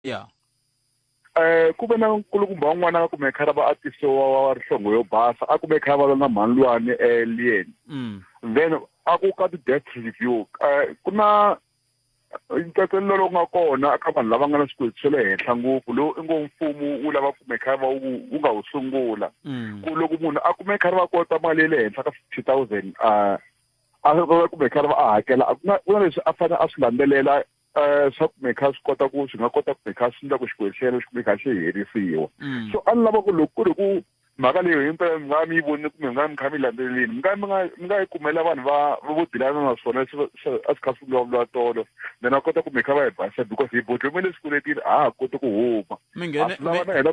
ya um ku ve na nkulukumba wun'wana a kume khara va atise wa wa rihlongo yo basa a kume khara va lwa na mhanilwani eliyeni mm. then a ku ka ti-death review um ku na ntsatselelo lowu nga kona ka vanhu lava nga na swikweleti swa le henhla ngopfu lowu i ngo mfumo wu lava kume khari va wu wu nga wu sungula mm. ku loko munhu a kume khari va kota mali ya le henhla ka fifty thousand a a kume khari va a hakela ku na leswi a fanele a swi landzelela um swa kumekha swi kota ku swi nga kota kumekha swi endla ku xikwehlela swi kumekha xi herisiwa mm. so a ni lava ku loko ku ri ku mhaka leyo himpela mi nga mi yi vonile kumbe mi nga mi kha mi landzelelini mi nga mi nga mi nga yi kumela vanhu va vo dilana na swona a swi kha swi vulavuriwa tolo then a kota ku mi kha va hi basa because hi bodlomele swikweletini a ha koti ku huma mi nghene lava na hina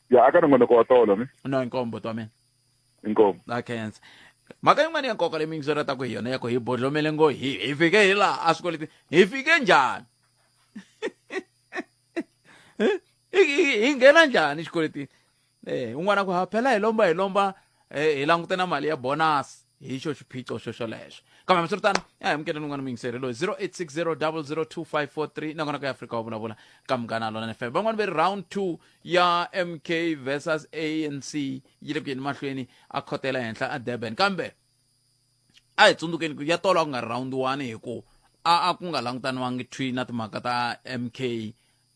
ya aka nongonoko wa tolo mi no inkombo to mina inkombo na khensa mhaka yin'wana ya nkoka leyi mi yingiselataka hi yona ya ku hi bodlomele ngo hi hi fike hi laha a swikoleti hi fike njhani hi nghena njhani xikweletini um un'wana ku ha phela hi lomba hi lomba hi langute na mali ya bonasi hi xo xiphiqo xo xolexo kambe hambiswiritano ya hi mukeleni un'wana muyingiseri loyi 0860002543 nakona ka ya afrika wa vulavula ka munghana lona fm van'wani ve ri round 2 ya mk versus anc yi le ku yeni mahlweni a khotela henhla a durban kambe a hi tsundzukeni ku ya tolo a ku nga ri round 1 hi ku a a ku nga langutaniwangi twi na timhaka ta mk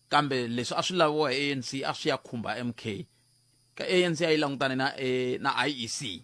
kambe leswi a swi laviwa hi anc a swi ya khumba mk ka anc a yi langutane na, eh, na iec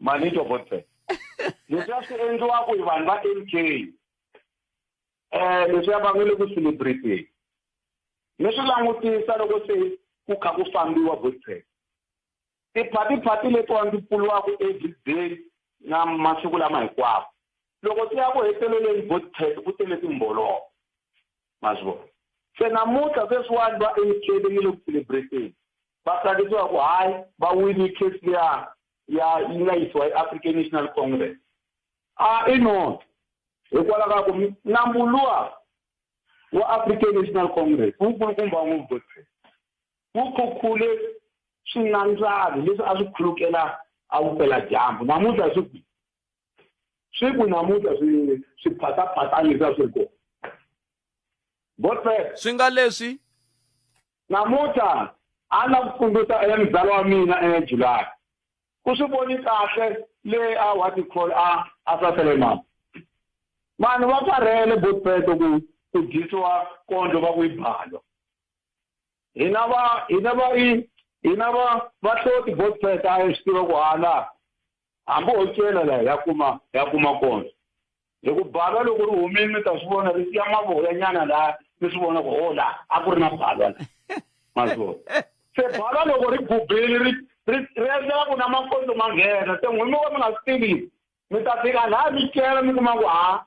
mani to botse leswi a swi endliwaka hi vanhu va m k um leswi ya va nga le ku celebrateni mi swi langutisa loko se ku kha ku fambiwa botse tiphatiphati letiwa ndzi pfuriwaka everyday na masiku lama hinkwawo loko ti ya ku heteleleni botse ku tele timbolovo ma swi vona se namuntlha sweswiwani va etlele yi le ku celebrateni va tsakisiwa ku hayi va wini case liya ya yi nga yisiwa i-african national congress a i nona hikwalaho ka ku nambu luwa wa african national congress wu kulukumba ngopfu godfrey wu khukhule swinandzani leswi a swi khulukela a vupela dyambu namuntlha swi kwi swi ku namuntlha swi swi phataphata leswi a swi ri kona godfrey swi nga leswi namuntlha a ni la ku tsundzuxa e mzala wa mina e july ku swi voni kahle le a what you call a a sasele mama vanhu va karhele botpeto ku ku dyisiwa kondlo va ku yi balo hina va hina va yi hina va va hloti botpeta a yi swi tiva ku hala hambi o cela laha ya kuma ya kuma kona hi ku balwa loko ri humile mi ta swi vona ri siya mavoya nyana laha mi swi vona ku o oh, laha a ku ri na balwa la mazona se balwa loko ri bubile ri ri ri endlela ku na makondzo ma nghena se n'wini mi va mi nga swi tivi mi ta fika laha mi cela mi kuma ku ha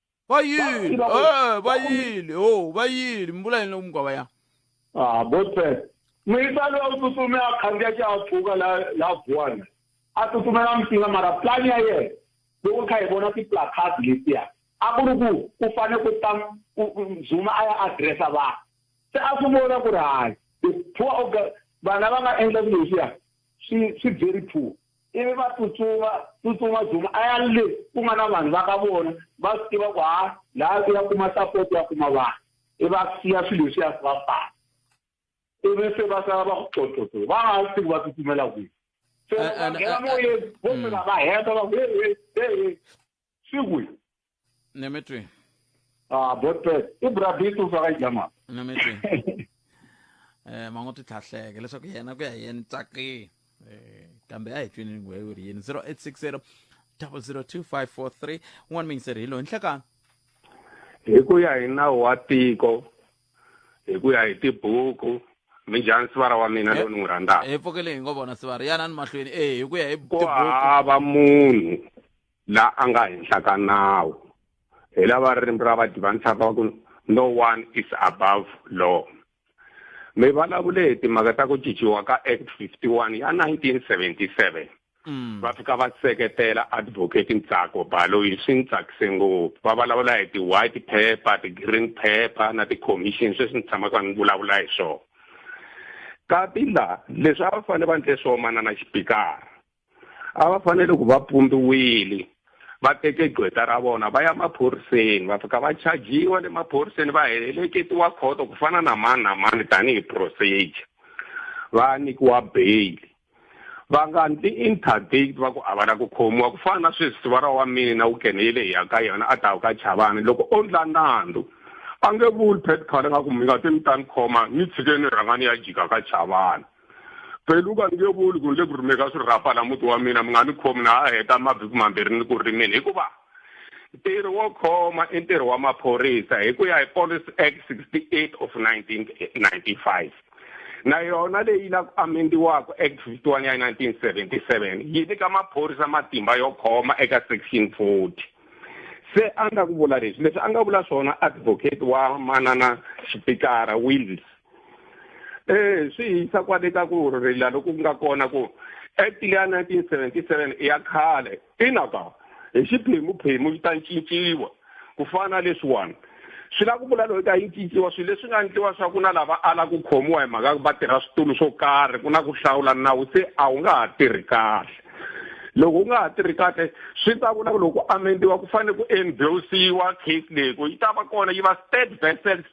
bayili eh bayili oh bayili mbula yini loku mugwava ya ah botswela n'wisa loyi u tsutsume a khandziya xihahampfhuka la la vuwana a tsutsumela msinga mara plan ya yena loko kha hi vona ti-placard letiya a ku ri ku ku fane ku ta zuma a ya addressa vanhu se a swi vona ku ri hayi the poor vana va nga endla swilo leswiya swi swi very poor ivi va tsutsuma tsutsuma Zuma a ya le ku nga na vanhu va ka vona va swi tiva ku ha laha ku ya kuma support ya kuma vanhu i va siya swilo leswi ya swi va fana ivi se va sala va ku xoxoxo va nga swi tivi va tsutsumela kwihi se va nghena moyeni vo fika va heta va ku hehe hehe swi kwihi Nemetwe. Ah, botpet. I brabit u faka jama. Nemetwe. Eh mango ti tlhahleke leswaku yena ku ya yena tsaki. Eh kambe a hi twini ngwe u ri yini 0860 002543 un'wana mingiseri hi loyi nhlekani hi ku ya hi nawu wa tiko hi ku ya hi tibuku minjhani sivara wa mina lowu ni n'wi rhandzaka hi pfukele hi ngo vona sivara yana ni mahlweni e hi ku ya hi ku hava munhu la a nga henhla ka nawu hi lava ririmi ra va divanisaka va ku no one is above law mi vulavule hi timhaka ta ku cinciwa ka act 51 ya 1977 mm. va fika va seketela advocate ntsako balo yi swi ni tsakise ngopfu va vulavula hi ti-white paper ti-green paper na ti-commission sweswi ni tshamaka ni vulavula hi swona kati laha leswi a va fanele va ndle swo manana xipikara a va fanele ku va pumbiwile va teke gqweta ra vona va ya maphoriseni va fika va chajiwa le maphoriseni va heleketiwa khoto ku fana na mani na mani tanihi procedure va nyikiwa bail va nga ndzi interdict va ku a va la ku khomiwa ku fana na sweswi siva ra wa mina wu keneyile hi ya ka yona a ta ka chavani loko o ndla nandzu a nge vuli petcol nga ku mi nga ti mi ta ni khoma ni tshikeni rhangani ya jika ka chavani pheluka ni nge vuli ku ni le ku rimeka swirhapa la muti wa mina mi nga ni khomi na a heta mavhiki mambirhi ni ku rimeni hikuva ntirho wo khoma i ntirho wa maphorisa hi ku ya hi policy act 68 of 1995 na yona leyi la ku amendiwaka act 51 ya 1977 yi nyika maphorisa matimba yo khoma eka section 40 se a nga ku vula leswi leswi a nga vula swona advocate wa manana xipikara wills eh swi yisa kwale ka ku rila loku nga kona ku act leya 1977 i ya khale ina ka hi xiphemuphemu yi ta cinciwa ku fana na leswiwani swi lava ku vula loyi ka yi cinciwa swilo leswi nga endliwa swa ku na lava ala ku khomiwa hi mhaka va tirha switulu swo karhi ku na ku hlawula nawu se a wu nga ha tirhi kahle loko u nga ha tirhi kahle swi ta vula ku loko amendiwa ku fanele ku endosiwa case leyi ku yi ta va kona yi va state vessels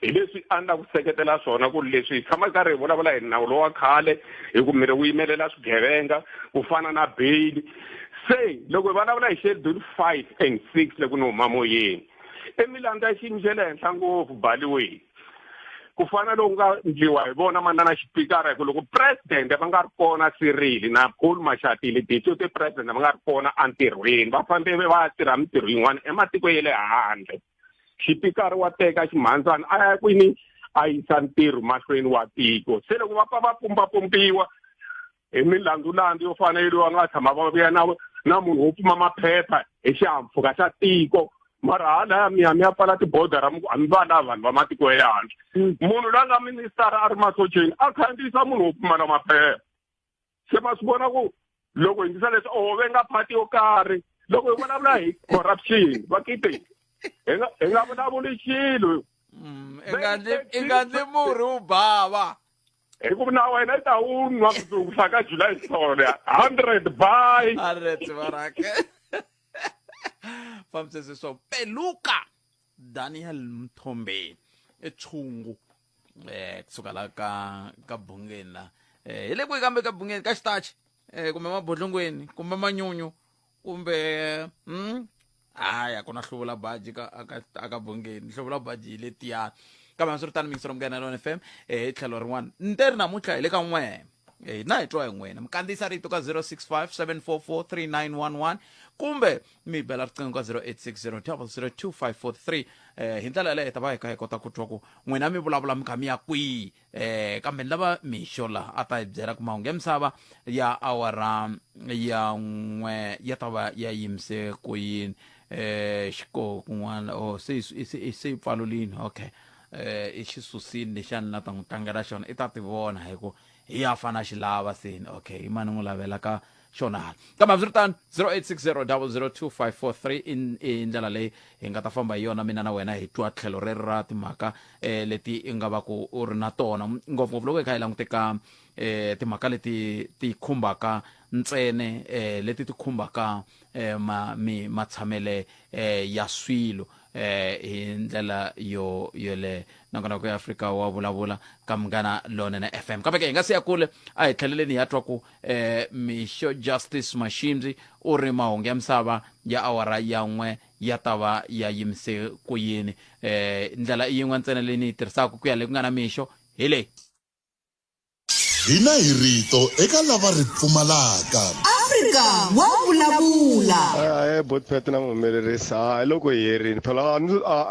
hi leswi a ni la ku seketela swona ku ri leswi hi tshama karhi hi vulavula hi nawu lowa khale hi ku miri wu yimelela swigevenga ku fana na beyili se loko hi vulavula hi schedule five and six loko ni huma moyeni i milandzu ya xiyimo xa le henhla ngopfu baliweni ku fana loku nga ndliwa hi vona manana xipikara hi ku loko presidente va nga ri kona sirili na paul maxatile deputy president va nga ri kona entirhweni va fambele va ya tirha mintirho yin'wana ematikweni ya le handle xipikara wa teka ximhandzana a ya kwini a yisa ntirho mahlweni wa tiko se loko va pfa va pumbapumbiwa hi milandzulandzu yo fana yeliwa nga tshama va vuya na na munhu wo pfuma maphepha hi xihampfhuka xa tiko mara hala ya miyami ya pfala tibodara a mi va lava vanhu va matiko ya le handle mm. munhu la nga ministara a ri masocheni a khandziyisa munhu wo pfumala maphepha se ma swi vona ku loko hi ndisa leswi oho ve nga phati yo karhi loko hi vulavula hi corruption va kite hi nga hi nga vulavuli xilo mm, i nga ndzi murhi wu bava hi ku na wena i ta wu nwa mundzuku sa ka july sole hundred by hundred varake famsese so peluka daniel mthombe etshungu eh kusuka la ka ka bungeni la eh hi le kwihi kambe ka bungeni ka xitachi eh kumbe mabodlongweni kumbe manyunyu kumbe mm hayi a ku na hluvula baji ka aka aka bungeni hluvula baji hi le tiyani kambe a swi ri tani mingiselo munghana lona fm eh hi tlhelo rin'wana nte ri namuntlha hi le ka n'we Eh, hina hi twa hi n'wina mi kandziyisa rito ka 065 744 3911 kumbe mi bela riqingho ka 0860 00254 eh, hi ndlela yaleyo hi ta va hi kha hi kota ku twa ku n'wina mi vulavula mi kha mi ya kwihi eh, kambe ni lava mixo laha a ta hi byela ku mahungu ya misava ya awara ya n'we ya ta va ya yimise ku yini eh, xiko kun'wana o se yi- se yi- se yi pfalulini okay eh i xi susini lexi a ni la ta n'wi tlangela xona i ta ti vona hi ku hi ya fana xi lava seni okay i mani n'wi lavela ka xona hala kambe hambiswiritano 0860 i i ndlela leyi hi nga ta famba hi yona mina na wena hi twa tlhelo ri ri ra timhaka um leti i nga va ku u ri na tona ngopfungopfu loko hi kha hi langute ka um timhaka leti ti khumbaka ntsene um leti ti khumbaka um matshamele um ya swilo eh hi ndlela yo yoleyo nakona ku ya afrika wa vulavula ka munghana lonene fm kambe ke hi nga siya kule a hi tlheleleni hi ya twa ku eh mixo justice mashindzi u ri mahungu ya misava ya awara ya n'we ya ta va ya yimise ku yini eh ndlela i yin'we ntsena leyi ni yi tirhisaka ku ya le ku nga na mixo hi leyi Hina hi rito eka lava ri pfumalaka. Afrika wa vulavula. Ahee bot pet na muhumelerisi ha hi loko hi herini phela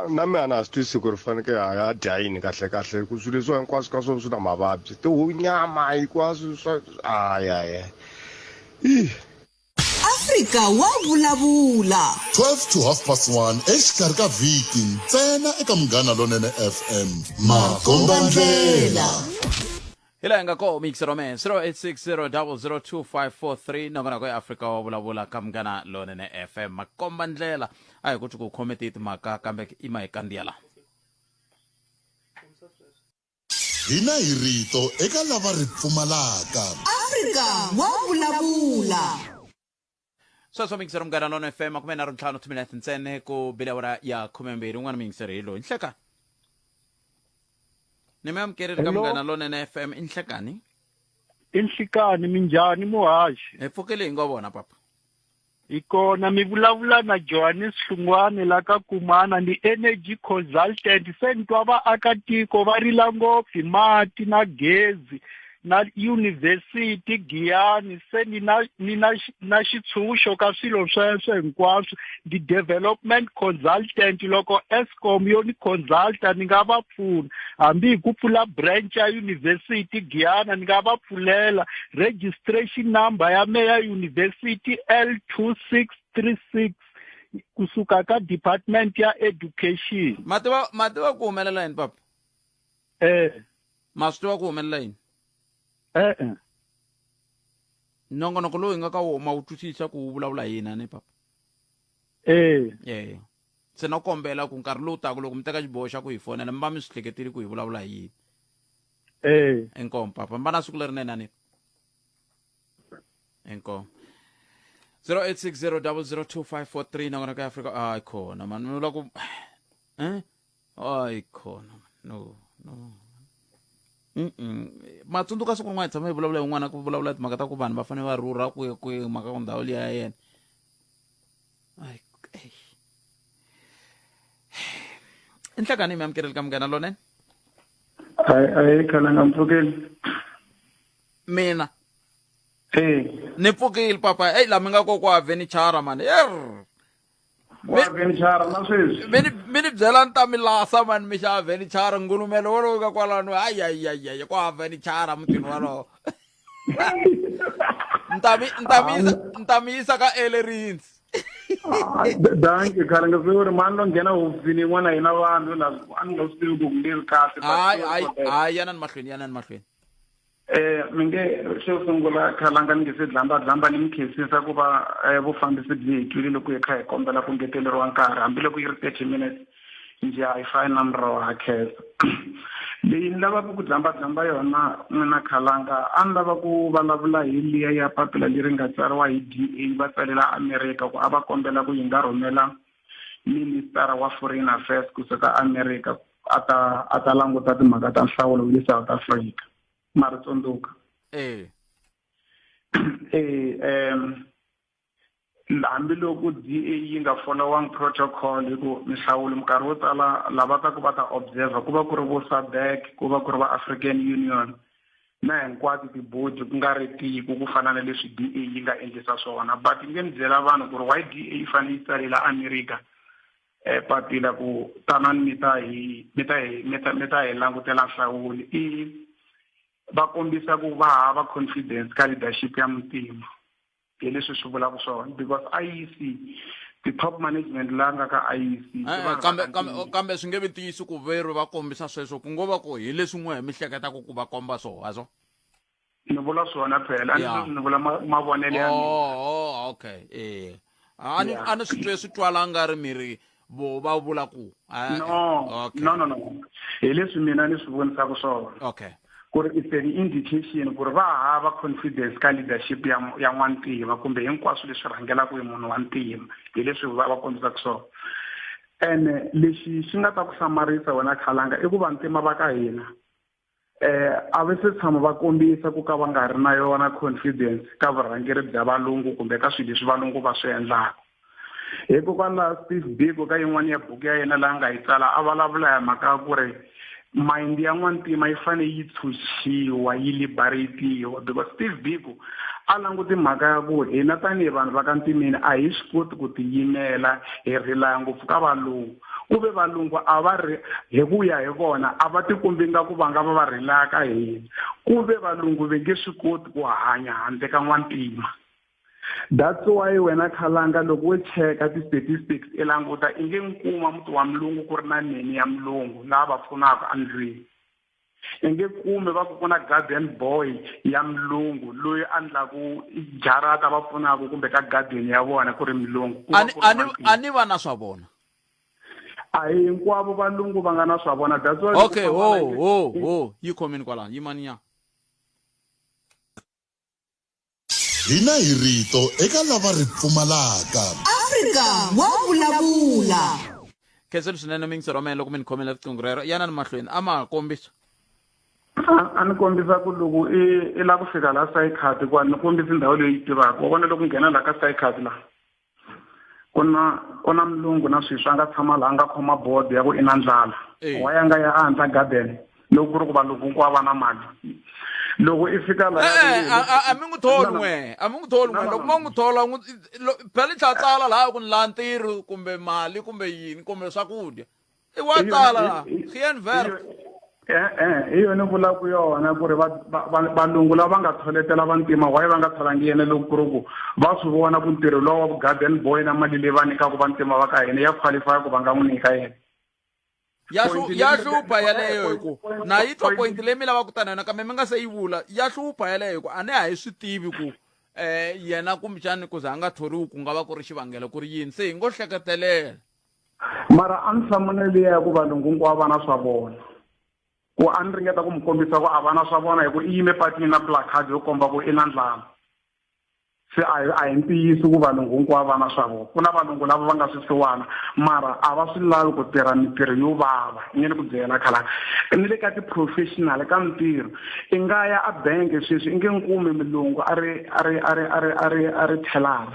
na mi a na ha swi twisi ku ri fanekele ha ya dya yini kahle kahle hi ku swilo leswiwa hinkwaswo ka swona swi na mavabyi tihunyama hinkwaswo swa ayaya i afrika wa vulavula 12 to half past 1 exikarhi ka vhiki ntsena eka munghana lonene fm makombandlela hi laha hi nga koho mix rome 0860002543 nakona ko eafrika wa vulavula ka munghana lonene fm makomba ndlela a hi ku ti ku khome tiyi timhaka kambe i mahikandiya lawa Hina hi rito eka lava ri pfumalaka. Afrika wa vulavula. Sweswo mixer munghana lona FM makume nharhu ntlhanu two minutes ntsene ku bile awara ya khumembirhi un'wana mixer hi loyi nhlekani ni mi amukerile ka munghana lonene FM i nhlekani i nhlekani minjhani muhaxi hi pfukile hi ngo vona papa Hi kona mi vulavula na Johannes Hlungwane la ka Kumana ni Energy Consultant se ni twa vaakatiko va rila ngopfu hi mati na gezi na Yunivhesiti Giyani se ni na ni na xi- na xitshunxo ka swilo sweswo hinkwaswo ndi Development Consultant loko es- Eskom yo ni consulta ni nga va pfuna hambi hi ku pfula branch ya university Giyana ni nga va pfulela registration number ya me ya university L two six three six kusuka ka department ya education ma tiva ma tiva ku humelela yini papa eh ma swi tiva ku humelela yini e-e nongonoko lowu hi nga ka wona ma wu twisisa ku wu vulavula yini a ni papa eh eya se na kombela ku nkarhi lowu taka loko mi teka xiboho xa ku hi fonela mi va mi swi hleketile ku hi vulavula hi yini e inkomu papa mi va na siku lerinene ani inkomu 0860 002 543 nakona ka afrika a ah, khona mani mi vula ku um hayi khona no no Mm-mm. matsundzuka siku rin'wana hi tshama hi vulavula hi n'wana ku vulavula timhaka ta ku vanhu va fanele va rhurha kwihi kwihi mhaka ku ndhawu liya ya yena Ai, ei. i nhlangano yi mi amukeleli ka munghana lonene hayi hayi khana nga mpfukeli mina e ni pfukile papa eyi la mi nga kokwa vhenichara mani er wa venichara na sweswi mi ni- mi ni byela ni ta mi lasa mani mi xava venichara ngulumelo wolowo ka kwalano ayayayaya ku hava venichara mutini wolowo ni ta mi- ni ta mi yisa- ni ta mi yisa ka elerins danki khale nga swi ri mani lo nghena hofisini yin'wana hina vanhu la a ni nga swi tivi ku ku leri kahle but- hayi hayi hayi yanani mahlweni yanani mahlweni Eh, mi nge xo sungula khalanga ni nge se dlambadlamba ni mi khensisa ku va eh, vufambisi byi hi twile loko hi kha hi kombela ku ngeteleriwa nkarhi hambiloko yi ri thirty minutes njhe a yi fani na murho wa khensa leyi ni lavaka ku dlambadlamba yona n'wina khalanga a ni lava ku vulavula hi liya ya papila leri nga tsariwa hi d a va tsalela amerika ku a va kombela ku yi nga rhumela minister wa foreign affairs kusuka america a ta a ta languta timhaka ta nhlawulo wa le South Africa mara tsundzuka eh eh em hambiloko DA yi nga following protocol hi ku mihlawulo minkarhi yo tala lava ta ku va ta observer ku va ku ri vo SADC ku va ku ri va African Union na hinkwato tibodi ku nga ri tiko ku fana na leswi DA yi nga endlisa swona but ni nge ni byela vanhu ku ri why DA yi fanele yi tsalela America eh, papila ku tanani mi ta hi mi ta hi mi ta mi ta hi langutela nhlawuli i va kombisa ku va hava confidence ka leadership ya muntima hi leswi swi vulaka swona because IEC ti-top management la nga ka IEC eh, kambe kambe kambe swi nge vi ntiyisi ku verhu va kombisa sweswo ku ngo va ku hi leswi n'we hi mi hleketaka ku va komba swona ni vula swona phela ani sweswi ni vula mavonelo ya mina oh, oh okay eh a ni a ni swi twe swi twala nga ri mi ri vo va vula ku eh, no no no no hi leswi mina ni swi vonisaka swona okay ku ri it's an indication ku ri va hava confidence ka leadership ya ya n'wantima kumbe hinkwaswo leswi rhangelaka hi munhu wa ntima hi leswi va va kombisaka swona ene lexi xi nga ta ku hlamarisa wena khalanga i ku vantima va ka hina eh a va se tshama va kombisa ku ka va nga ri na yona confidence ka vurhangeri bya valungu kumbe ka swilo leswi valungu va swi endlaka hikokwalaho steve biko ka yin'wana ya buku ya yena laha nga yi tsala a vulavula hi mhaka ya ku ri mayindi ya n'wantima yi fanele yi tshunxiwa yi liberatiwa because steve biko a languti mhaka ya ku hina tanihi vanhu va ka ntimeni a hi swi koti ku tiyimela hi rilaya ngopfu ka valungu ku ve valungu a va ri hi ku ya hi vona a va tikombi nga ku va nga va va rilaya ka hina ku ve valungu ve nge swi koti ku hanya handle ka n'wantima that's why wena khalanga loko wo cheka ti-statistics i languta i nge nkuma muti wa mulungu ku ri na neni ya mulungu lava pfunaka endlwini i nge kume va ku ku na garden boy ya mulungu loyi a ndlaku jarata va pfunaka kumbe ka garden ya vona ku ri mulungu a ni va na swa vona a hi hinkwavo valungu va nga na swa vona that's why okay ho ho ho yi khomini kwalano yimaniya Hina hi rito eka lava ri pfumalaka. Afrika wa vulavula. Khenseni swinene mi ndzi rhomela loko mi ni khomela riqingho rero yana ni mahlweni a ma ha kombisa a ni kombisa ku loko i i lava ku fika laha Sycard kwani ni kombisa ndhawu leyi yi tivaka wa vona loko nghena laha ka Sycard laha ku na ku na mulungu na sweswi a nga tshama laha a nga khoma bodo ya ku i na ndlala wa ya nga ya a handla garden loko ku ri ku valungu hinkwavo va na mali loko i fika laha a mi n'wi tholi n'we a mi n'wi tholi n'we loko ma n'wi thola n'wi phela i tlhatsala laha ku ni laha ntirho kumbe mali kumbe yini kumbe swakudya i wa Hi- tala hi- la hi- geen werk hi- eh, eh, hi yona vulaka yona ku ri va- va- va- valungu lava nga tsholetela vantima waye va nga tsholangi yena loko ku ri ku va swi vona ku ntirho lowu wa vugarden boy na mali leyi va nyikaka vantima va ka hina ya qualify ku va nga n'wi nyika yena ya Point hlu- leyi ya mi- hlupha yeleyo hi ku point- na yi twa point- point leyi mi lavaka tana yona kambe mi nga se yi vula ya hlupha yeleyo hi ku a ne a hi swi tivi ku um yena kumbexani ku za a nga thoriwi ku nga va ku ri xivangelo ku ri yini se hi ngo hleketelela Mara a ndzi hlamula liya ya ku valungu hinkwavo va na swa vona ku a ni ringeta ku mi kombisa ku a va na swa vona hi ku i yime patini na placard yo komba ku i na ndlala se a hi a hi ntiyiso ku valungu hinkwavo va na swa vona ku na valungu lava va nga swisiwana mara a va swi lavi ku tirha mintirho yo vava i nge ni ku byela khala ni le ka ti-professional ka mintirho i nga ya a bank sweswi i nge ni kumi mulungu a ri a ri a ri a ri a ri a ri teller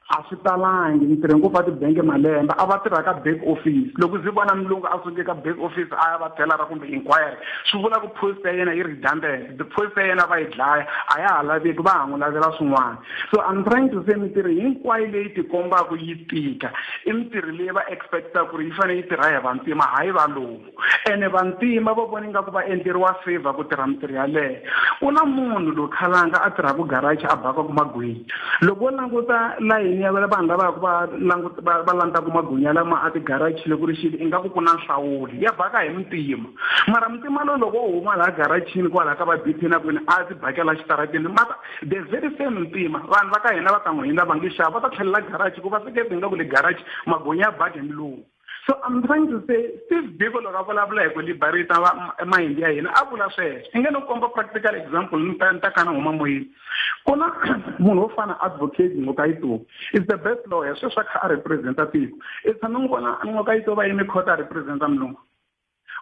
a swi talangi ni tirhe ngopfu va tibangi malembe a va tirha ka back office loko ndzi vona mulungu a suke ka back office a ya va telara kumbe inquiry swi vula ku post ya yena yi redundant the post ya yena va yi dlaya a ya ha laveki va ha n'wi lavela swin'wana so i'm trying to say mintirho hinkwayo leyi tikombaka yi tika i mintirho leyi va expect-aka ku ri yi fanele yi tirha hi vantima hayi valowu ene vantima va vona ingaku va endleriwa favor ku tirha mintirho yaleyo ku na munhu loyi khalanga a tirhaka garachi a bakaku magwinya loko wo languta layini ya vanhu lavaku va languta va va landzaka magwinya lama a tigarachi loko ri xili ingaku ku na nhlawuli ya baka hi muntima mara muntima loyi loko wo huma laha garachini kwalaha ka va BP na kwini a ti bakela xitaratini mara the very same muntima vanhu va ka hina va ka n'wina va nge xava va ta tlhelela garachi ku va sekete ingaku le garachi magwinya ya bake milumu so i'm trying to say steve biko loko a vulavula hi ku liberate va mayindi ya hina a vula sweswo i nge no komba practical example ni ta ni ta kana huma moyeni ku na munhu wo fana advocate ngokayitobi is the best lawyer sweswi a kha a representa tiko i tshame n'wi vona ngokayitobi a yime court a representa mulungu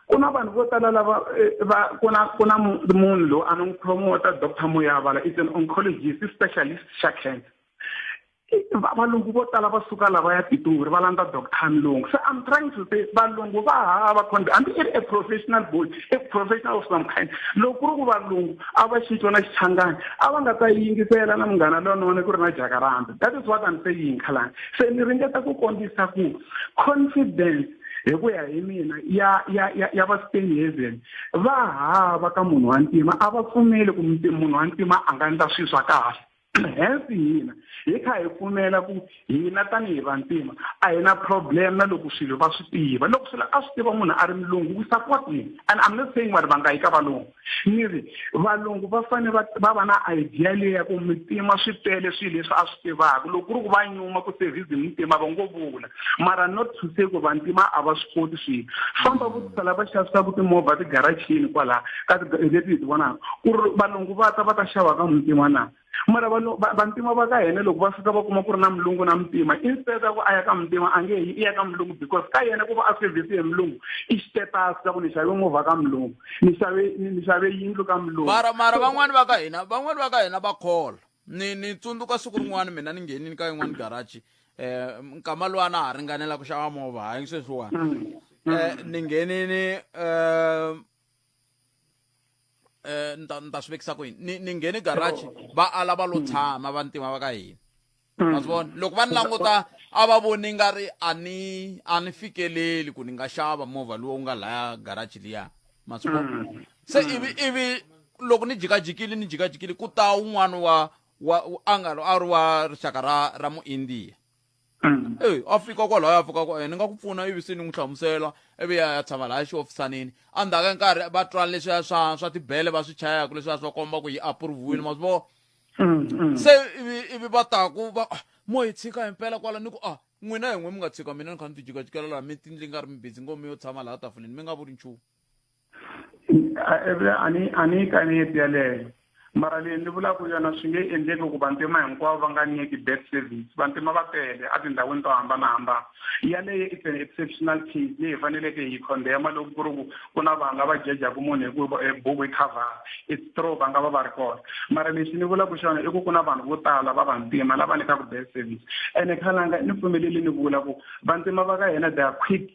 ku na vanhu vo tala lava eh, va ku na ku na munhu loyi a ni n'wi promota doctor moyavala is an oncologist specialist xa cancer valungu vo tala va suka lava ya pitori va landza doctor mlungu so i'm trying to say valungu va hava condi hambi i ri a professional boy a professional of some kind loko ku ri ku valungu a va xitwa na xichangani a va nga ta yingisela na munghana lonene ku ri na jakaranda that is what i'm saying khalani se ni ringeta ku kombisa ku confidence hi ku ya hi mina ya ya ya, ya va Steinhaven va hava ka munhu wa ntima a va pfumeli ku munhu wa ntima a nga endla swilo swa kahle hence hina hi kha hi pfumela ku hina tanihi vantima a hi na problem na loko swilo va swi tiva loko swilo a swi tiva munhu a ri mulungu we support him and i'm not saying vanhu va nga yi ka valungu Xiri, valungu va fane va va va na idea leyi ya ku mitima swi tele swilo leswi a swi tivaka loko ku ri ku va nyuma ku service mitima va ngo vula mara not to say ku vantima a va swi koti swilo famba vutisa lava xavisaka timovha tigarachini kwala ka leti hi ti vonaka ku ri valungu va ta va ta xava ka muntima na mara vanhu vantima va ka hina loko va fika va kuma ku ri na mulungu na mutima instead a ku a ya ka mutima a nge i ya ka mulungu because ka yena ku va a service hi mulungu i xitetasi ka ku ni xave movha ka mulungu ni xave ni xave yindlu ka mulungu mara mara van'wani va ka hina van'wani va ka hina va khola ni ni tsundzuka siku rin'wana mina ni nghenini ka yin'wani garaji eh, um nkama lowa na ha ringanela ku xava movha hayi sweswiwani um mm, mm. eh, ni nghenini um eh ni ta ni ta swi vekisa ku yini ni ni nghene garage va ala va lo tshama vantima va ka hina ma swi vona loko va ni languta a va voni nga ri a ni a ni fikeleli ku ni nga xava movha lowu nga laya garage liya ma swi vona se ivi ivi loko ni jikajikile ni jikajikile ku ta un'wana wa wa a nga a ri wa rixaka ra ra muindiya Mm. eyi a fika kwalaho a fika kwa ni nga ku pfuna ivi se ni n'wi hlamusela ivi ya ya tshama lahaya xiofisanini a ndzhaku ya nkarhi va twa leswiya swa swa tibele va swi chayaka leswiya swa komba ku yi approve-wile ma swi vona Mm, mm. se ivi ivi va taku va ah, mo hi tshika himpela kwala ni ku a n'wina hi n'we mi nga tshika mina ni kha ni ti jikajikela laha mi tindli nga ri mi busy ngo mi yo tshama laha tafuleni mi nga vuli nchumu ani ani ka ni yeleyo mara leyi ni vulaka yona swi nge endleki ku vantima hinkwavo va nga nyiki bad service vantima va tele etindhawini to hambanahambana yaleyo it's an exceptional case leyi hi faneleke hi condemna loko ku ri ku ku na vanhu lava jejaku munhu hikuva e buku yi cover it's true va nga va va ri kona mara lexi ni vulaka xona i ku ku na vanhu vo tala va vantima lava nyikaku bad service ene khalanga ni pfumeleli ni vula ku vantima va ka hina they are quick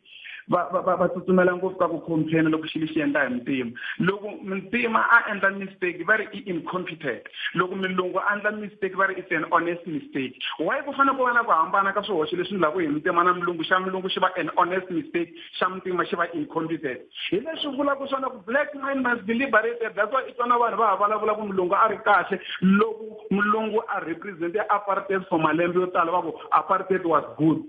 va va va va tsutsumela ngopfu ka ku complain loko xilo xi endla hi muntima loko muntima a endla mistake va ri i incompetent loko milungu a endla mistake va ri it's an honest mistake why ku fanele ku va na ku hambana ka swihoxo leswi ndlaku hi muntima na milungu xa milungu xi va an honest mistake xa muntima xi va incompetent hi leswi vulaka swona ku black man must be liberated that's why i twana vanhu va ha vulavula ku mulungu a ri kahle loko mulungu a represente apartheid for malembe yo tala va ku apartheid was good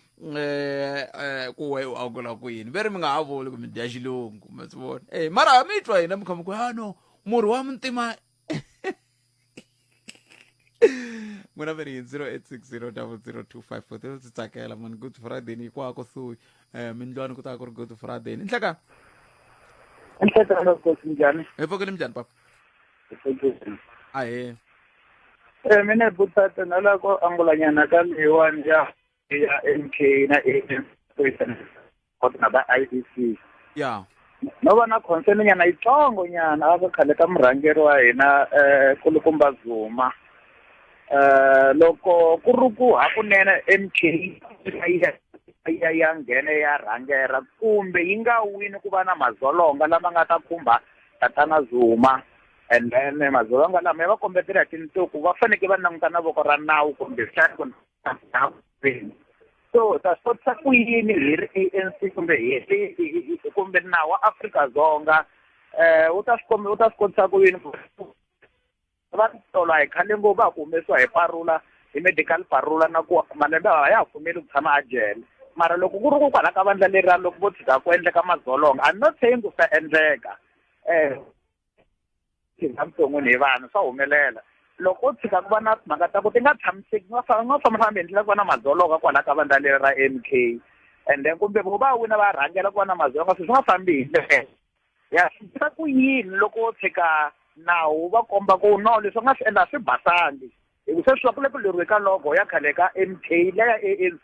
um um ku we u angula ku yini ve ri mi nga ha vuli ku mi dya xilungu ma swi vona e mara ha mi twa hina mi kha mi ku ha ah, no murhi wa muntima n'wina mi ri hi zero eight six zero double zero two five four tilo ndzi tsakela mani good friday ni hikwako suyi um mindlwani ku ta ku ri good friday ni nhleka nhlekalo kosi njhani hi pfukile minjhani papa ahe um mina hi butata na la ku angulanyana ka leyiwani ya ya MK na AM kota na ba IDC ya no va na concern nyana yitsongo nyana a ka khale ka murhangeri wa hina eh kulukumba Zuma eh loko ku ri ku hakunene MK ya ya nghene ya rhangera kumbe yi nga wini ku va na madzolonga lama nga ta khumba tatana Zuma and then madzolonga lama ya va kombetela hi tinsuku va faneke va languta na voko ra nawu kumbe xana so ta swi kotisa ku yini hi ri ANC kumbe hi ri kumbe nawu wa Afrika-Dzonga eh u ta swi kombe u ta swi kotisa ku yini va tolo a hi khale ngopfu a ku humesiwa hi parula hi medical parula na ku malembe a ya ha pfumeli ku tshama a jele mara loko ku ri ku kwala ka vandla leriya loko vo tshika ku endleka madzolonga i'm not saying ku swi ta endleka um tirha vuton'wini hi vanhu swa humelela loko ko tshika ku va na timhaka ta ku ti nga tshamiseki nga nga fambafambi hi ndlela ku va na madzolonga kwalaho ka vandla leri ra m k and then kumbe vo va wina va rhangela ku va na madzolonga sweswi nga fambi hi ndlela ya swiisa ku yini loko wo tshika nawu va komba ku no leswi nga swi endla swi basangi hi ku sweswi va ku le ku leriwe ka logo ya khale ka m k leya a n c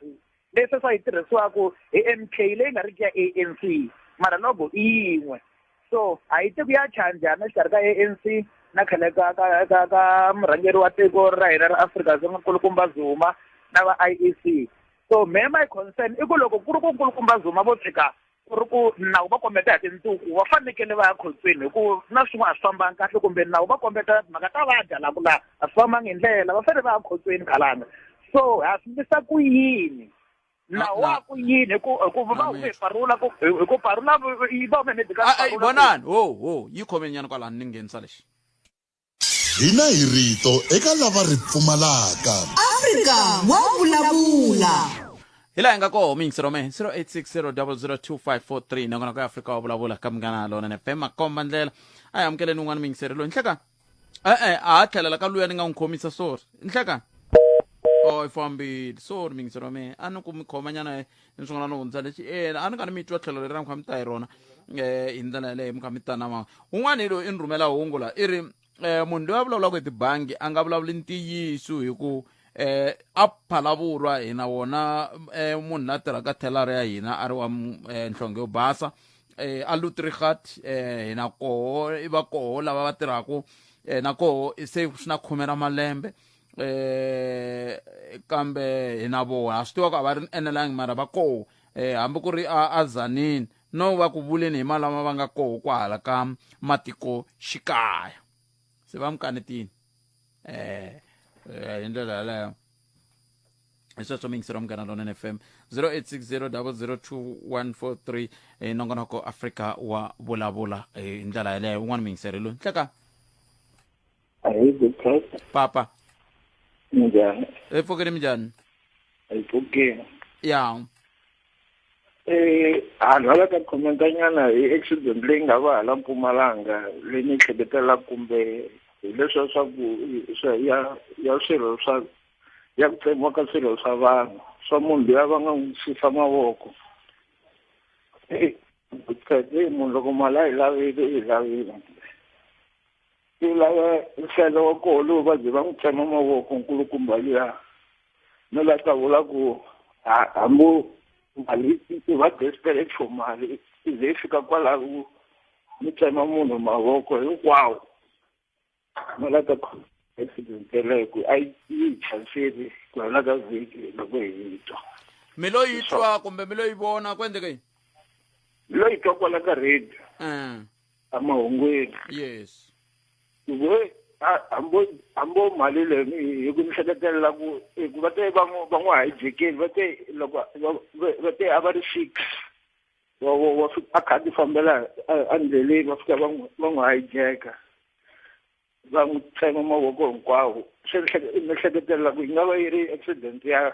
leswi swa yi tirhisiwaku hi MK leyi nga riki ya ANC mara logo i yin'we so a yi tiku ya chanjana exikarhi ka ANC na khale ka ka ka ka murhangeri wa tiko ra hina ra Afrika Dzonga nkulukumba Zuma na va IEC so me my concern i ku loko ku ri ku nkulukumba Zuma vo tshika ku ri ku nawu va kombeta hi tinduku va fanekele va ya khotsweni hi ku na swin'wana a swi fambangi kahle kumbe nawu va kombeta mhaka ta vadya la ku la a swi fambangi hi ndlela va fanele va ya khotsweni khalanga so ha swi ndlisa ku yini nawu wa ku yini hi ku hi ku va hume hi parula ku hi ku parula yi va hume medical vonani ho ho yi khomenyana kwalani ni nghenisa lexi Hina hi rito eka lava ri pfumalaka. Afrika wa vulavula. Hi laha hi nga kona miyingiselo me 0860002543 nongonoko ya Afrika wa vulavula ka Munghana Lonene FM makomba ndlela a hi amukeleni un'wana miyingiseri loyi nhlekani e-e a ha tlhelela ka luya ni nga n'wi khomisa sorry nhlekani o i fambile sorry miyingiselo me a ni ku mi khomanyana ni swin'wana no hundza lexi ena a ni nga ni mi twa tlhelo leri na mi kha mi ta hi rona um hi ndlela yaleyo mi kha mi ta na mama un'wana hi loyi i ni rhumela hungu la i ri um munhu loyi a vulavulaka hi tibangi a nga vulavuli ntiyiso hi ku eh a phalavurwa hina wona eh munhu la tirhaka thelari ya hina a ri wa eh, nhlonge yo basa eh a lutrigat eh hina koho i va koho lava va tirhaka eh na koho se swi na khume ra malembe eh kambe hi na vona swi tiva ku a va ri enelangi mara va koho eh hambi ku ri a a zanini no va ku vuleni hi malama va nga koho kwahala ka matiko xikaya se va mi kanetini eh eh, hi ndlela yaleyo hi sweswo mi yingiseriwa munghana lonene f m 0860 002143 hi nongonoko afrika wa vulavula hi ndlela yaleyo un'wana mi yingiseri loyi nhleka Hi good Christ. papa Njani? efokeni minjani Ayipokeni. ya Eh, a nga la ka comment nyana hi accident leyi nga va hala Mpumalanga leyi ni hleketela kumbe hileswa swa ku swa ya ya swirho swa ya ku tsemiwa ka swirho swa vanhu swa munhu loyi a va nga n'wi susa mavoko. Eh, good Christ, eh, munhu loko mali a yi lavile i yi lavile. ku lava nhlelo wa koho lowu va ze va n'wi tsema mavoko nkulukumba luya no la ta vula ku hambo mali i va desperate for mali i ze fika kwalaho mi tsema munhu mavoko hinkwawo no la ta accident yeleyo ku a yi chanseli ku hela ka vhiki loko hi yi twa mi lo yi twa kumbe mi lo yi vona ku endleke yini mi lo yi twa kwala ka radio eh. emahungwini yes we hambo hambo mali leyi hi ku ni hleketelela ku hi ku va te va n'wi va n'wi hajekeli va te loko va va va te a va ri six wa wa wa fi- a kha a ti fambela a- endleleni va fika va n'wi va n'wi hajeka va n'wi tsema mavoko hinkwawo se ni hleke- ni hleketelela ku yi nga va yi ri accident ya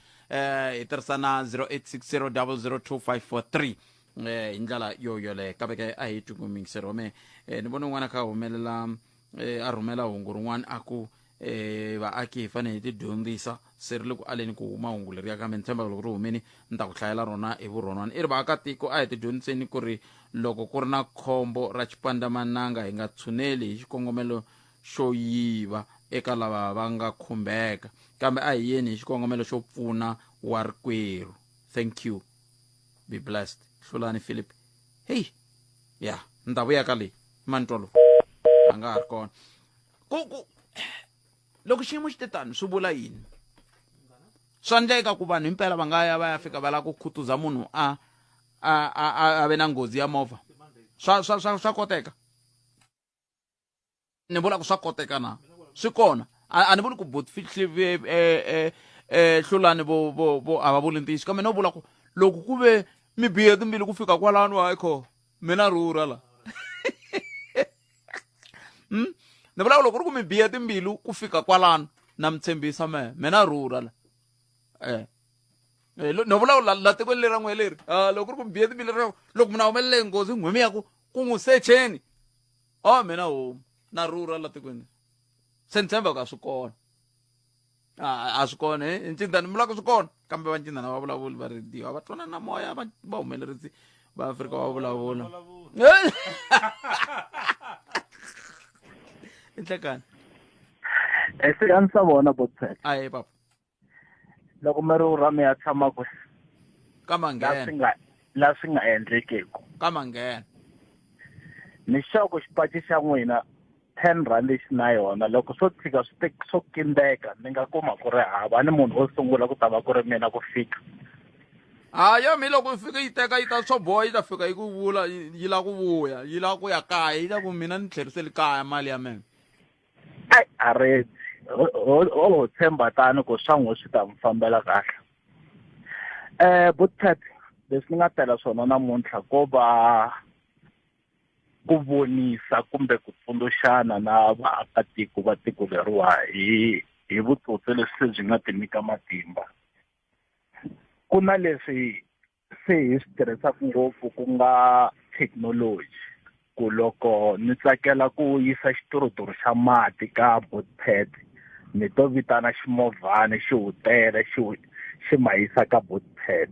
eh hi tirhisa na 0860002543 eh hi ndlela yo yoleyo kambe ke a hi tingumingiseri wa mehe eh, ni vona un'wana kha humelela eh, a rhumela hungu rin'wana a ku eh, vaaki hi fanele hi tidyondzisa se ri le ku aleni ku huma hungu leriya kambe ni tshemba loko ri humini ni ta ku hlayela rona hi vurhonwana i ri vaakatiko a hi tidyondziseni ku ri loko ku ri na khombo ra xipandzamananga hi nga tshuneli hi xikongomelo xo yiva eka lava va nga khumbeka kambe a hi yeni hi xikongomelo xo pfuna wa rikwerhu thank you be blessed hlulani philip heyi ya ni ta vuya ka leyi mani twa lowu a nga ha ri kona ku ku loko xiyimo xi te tani swi vula yini swa ndleka ku vanhu himpela va nga ya va ya fika va lava ku khutuza munhu a a a a ve na nghozi ya movha swa swa swa swa koteka ni vula ku swa koteka na swi kona a ni vuli ku botifihlivee eh, eh, eh, hlulani vo vo vo a va vuli ntiyiso kambe no vula ku loko ku ve mi bihe timbili ku fika kwalano hayi kho mina rhurha la hmm? ni vula ku loko ri ku mi bihe timbilu ku fika kwalano na mi tshembisa mehe mina rhurha la eh no vulavula la tikweni lera n'we leri ah, loko ri ku mi bihe timbilu loko mi na humelele nghozi nghwimi ya ku ku n'wi secheni o oh, mina homu na rhurha la tikweni se ni tshemba ku a swi kona a swi kona hi ncindani mi lava ku swi kona kambe va ncindani va vulavuli va rediyo a va twana na moya va va humeleritsi va afrika va vulavula i nhlekani e se a ni sa vona botset a ye papa loko mi ri u ra mi ya tshama kwe ka manghena nga la swi nga endlekeku ka manghena ni xoko xipaci xa n'wina ten rand lexi na yona loko swo tshika swi te swo kindeka ni nga kuma ku ri hava ni munhu wo sungula ku ta va ku ri mina ku fika ha yo mi loko yi fika yi teka yi ta swo boha yi ta fika yi ku vula yi lava ku vuya yi lava ku ya kaya yi ta ku mina ni tlheriseli kaya mali ya mina ai a redzi o ho tshemba tani ku swa n'wi swi ta n'wi fambela kahle um bothat leswi ni nga tela swona namuntlha ko va ku vonisa kumbe ku tsundzuxana na vaakatiko va tiko leriwa hi hi vutsotsi leswi byi nga ti nyika matimba ku na leswi se hi swi tirhisaka ngopfu ku nga thekinoloji ku loko ni tsakela ku yisa xituruturu xa mati ka botpad ni to vitana ximovhana xi wu tele xi wu xi ma yisa ka botpad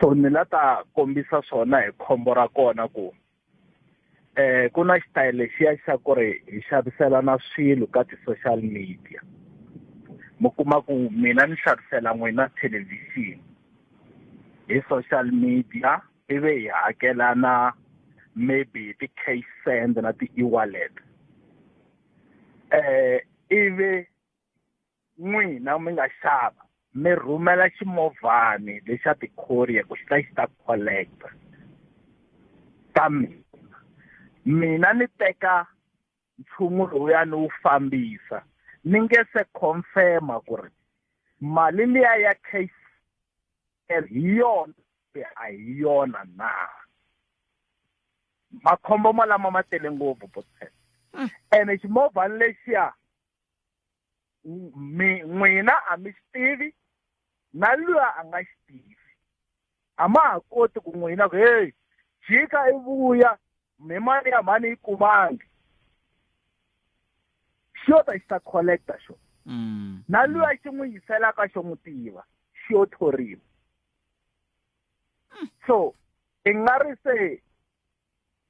so ni la ta kombisa swona hi khombo ra kona ku eh ku na xitayele lexiya xa ku ri hi xaviselana swilo ka ti-social media mi kuma ku mina ni xavisela n'wina thelevhixini hi social media ivi hi hakelana maybe hi ti-cash send na ti-ewallet eh ivi n'wina mi nga xava mi rhumela ximovhani lexa ti-courier ku xi ta xi ta collect-a ka mina mina ni teka nchumu lowuya ni wu fambisa ni nge se confirm-a ku ri mali liya ya cash hi yona kumbe a hi yona na makhombo malama ma tele ngopfu botset mm. ene ximovhani lexiya mi n'wina a mi xi tivi na luya a nga xi tivi a ma ha koti ku n'wina ku heyi jika i vuya mi mali ya mhani yi kumangi xo ta xi ta collecta xo mm. na luya xi n'wi yiselaka xo n'wi tiva xo thoriwa so i nga ri se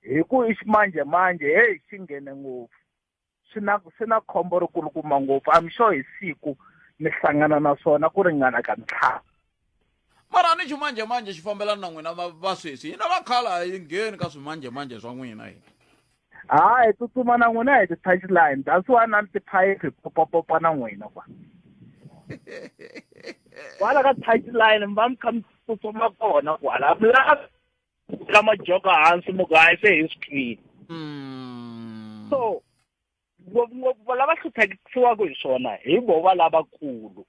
hi ku i ximanjemanje heyi xi nghene ngopfu swi na swi na khombo ri kulukuma ngopfu i'm sure hi siku mi hlangana na swona ku ringana ka ntlhanu mara ni ximanjemanje xi fambelana na n'wina va sweswi hina va khale a yi ngheni ka swimanjemanje swa n'wina hina hayi hi tsutsuma na n'wina hi ti-touch line that's why na ni tiphayiphi popapopa na n'wina kwa kwala ka touch line mi va mi kha mi tsutsuma kona kwala mi lavi ka majoka hansi mugayi se hi swi twile mm. so ngopfungopfu va lava hluphekisiwaka hi swona hi vo va lavakulu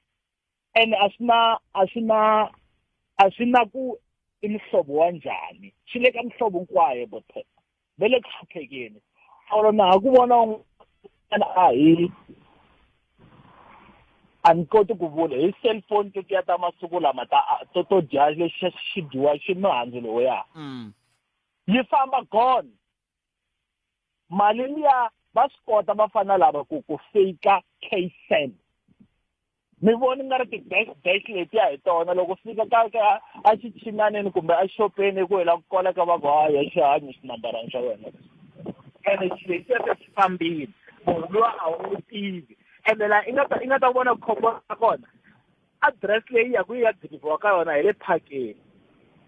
and a swi na a swi na a swi na ku i muhlovo wa njhani swi le ka muhlovo hinkwayo botheka ve le ku hluphekeni or na ha ku vona un'wana a hi a ni koti ku vula hi cellphone tetiya ta masiku lama ta to to dya lexi xi dyiwa xi mihandzu loya mm. yi famba gone mali liya va swi kota va fana lava ku ku fake cash send mi voni nga ri ti-dash dash letiya hi tona loko fika ka ka a xichinaneni kumbe a xopeni ku hela ku kola ka va ku haya xi hanyi xinambarana xa wena ene xi lexiya se xi fambile munhu luwa a wu n'wi tivi ene la i nga ta i nga ta vona khombo ra kona address leyi ya ku ya deliver-wa ka yona hi le phakeni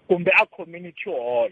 kumbe a community hall.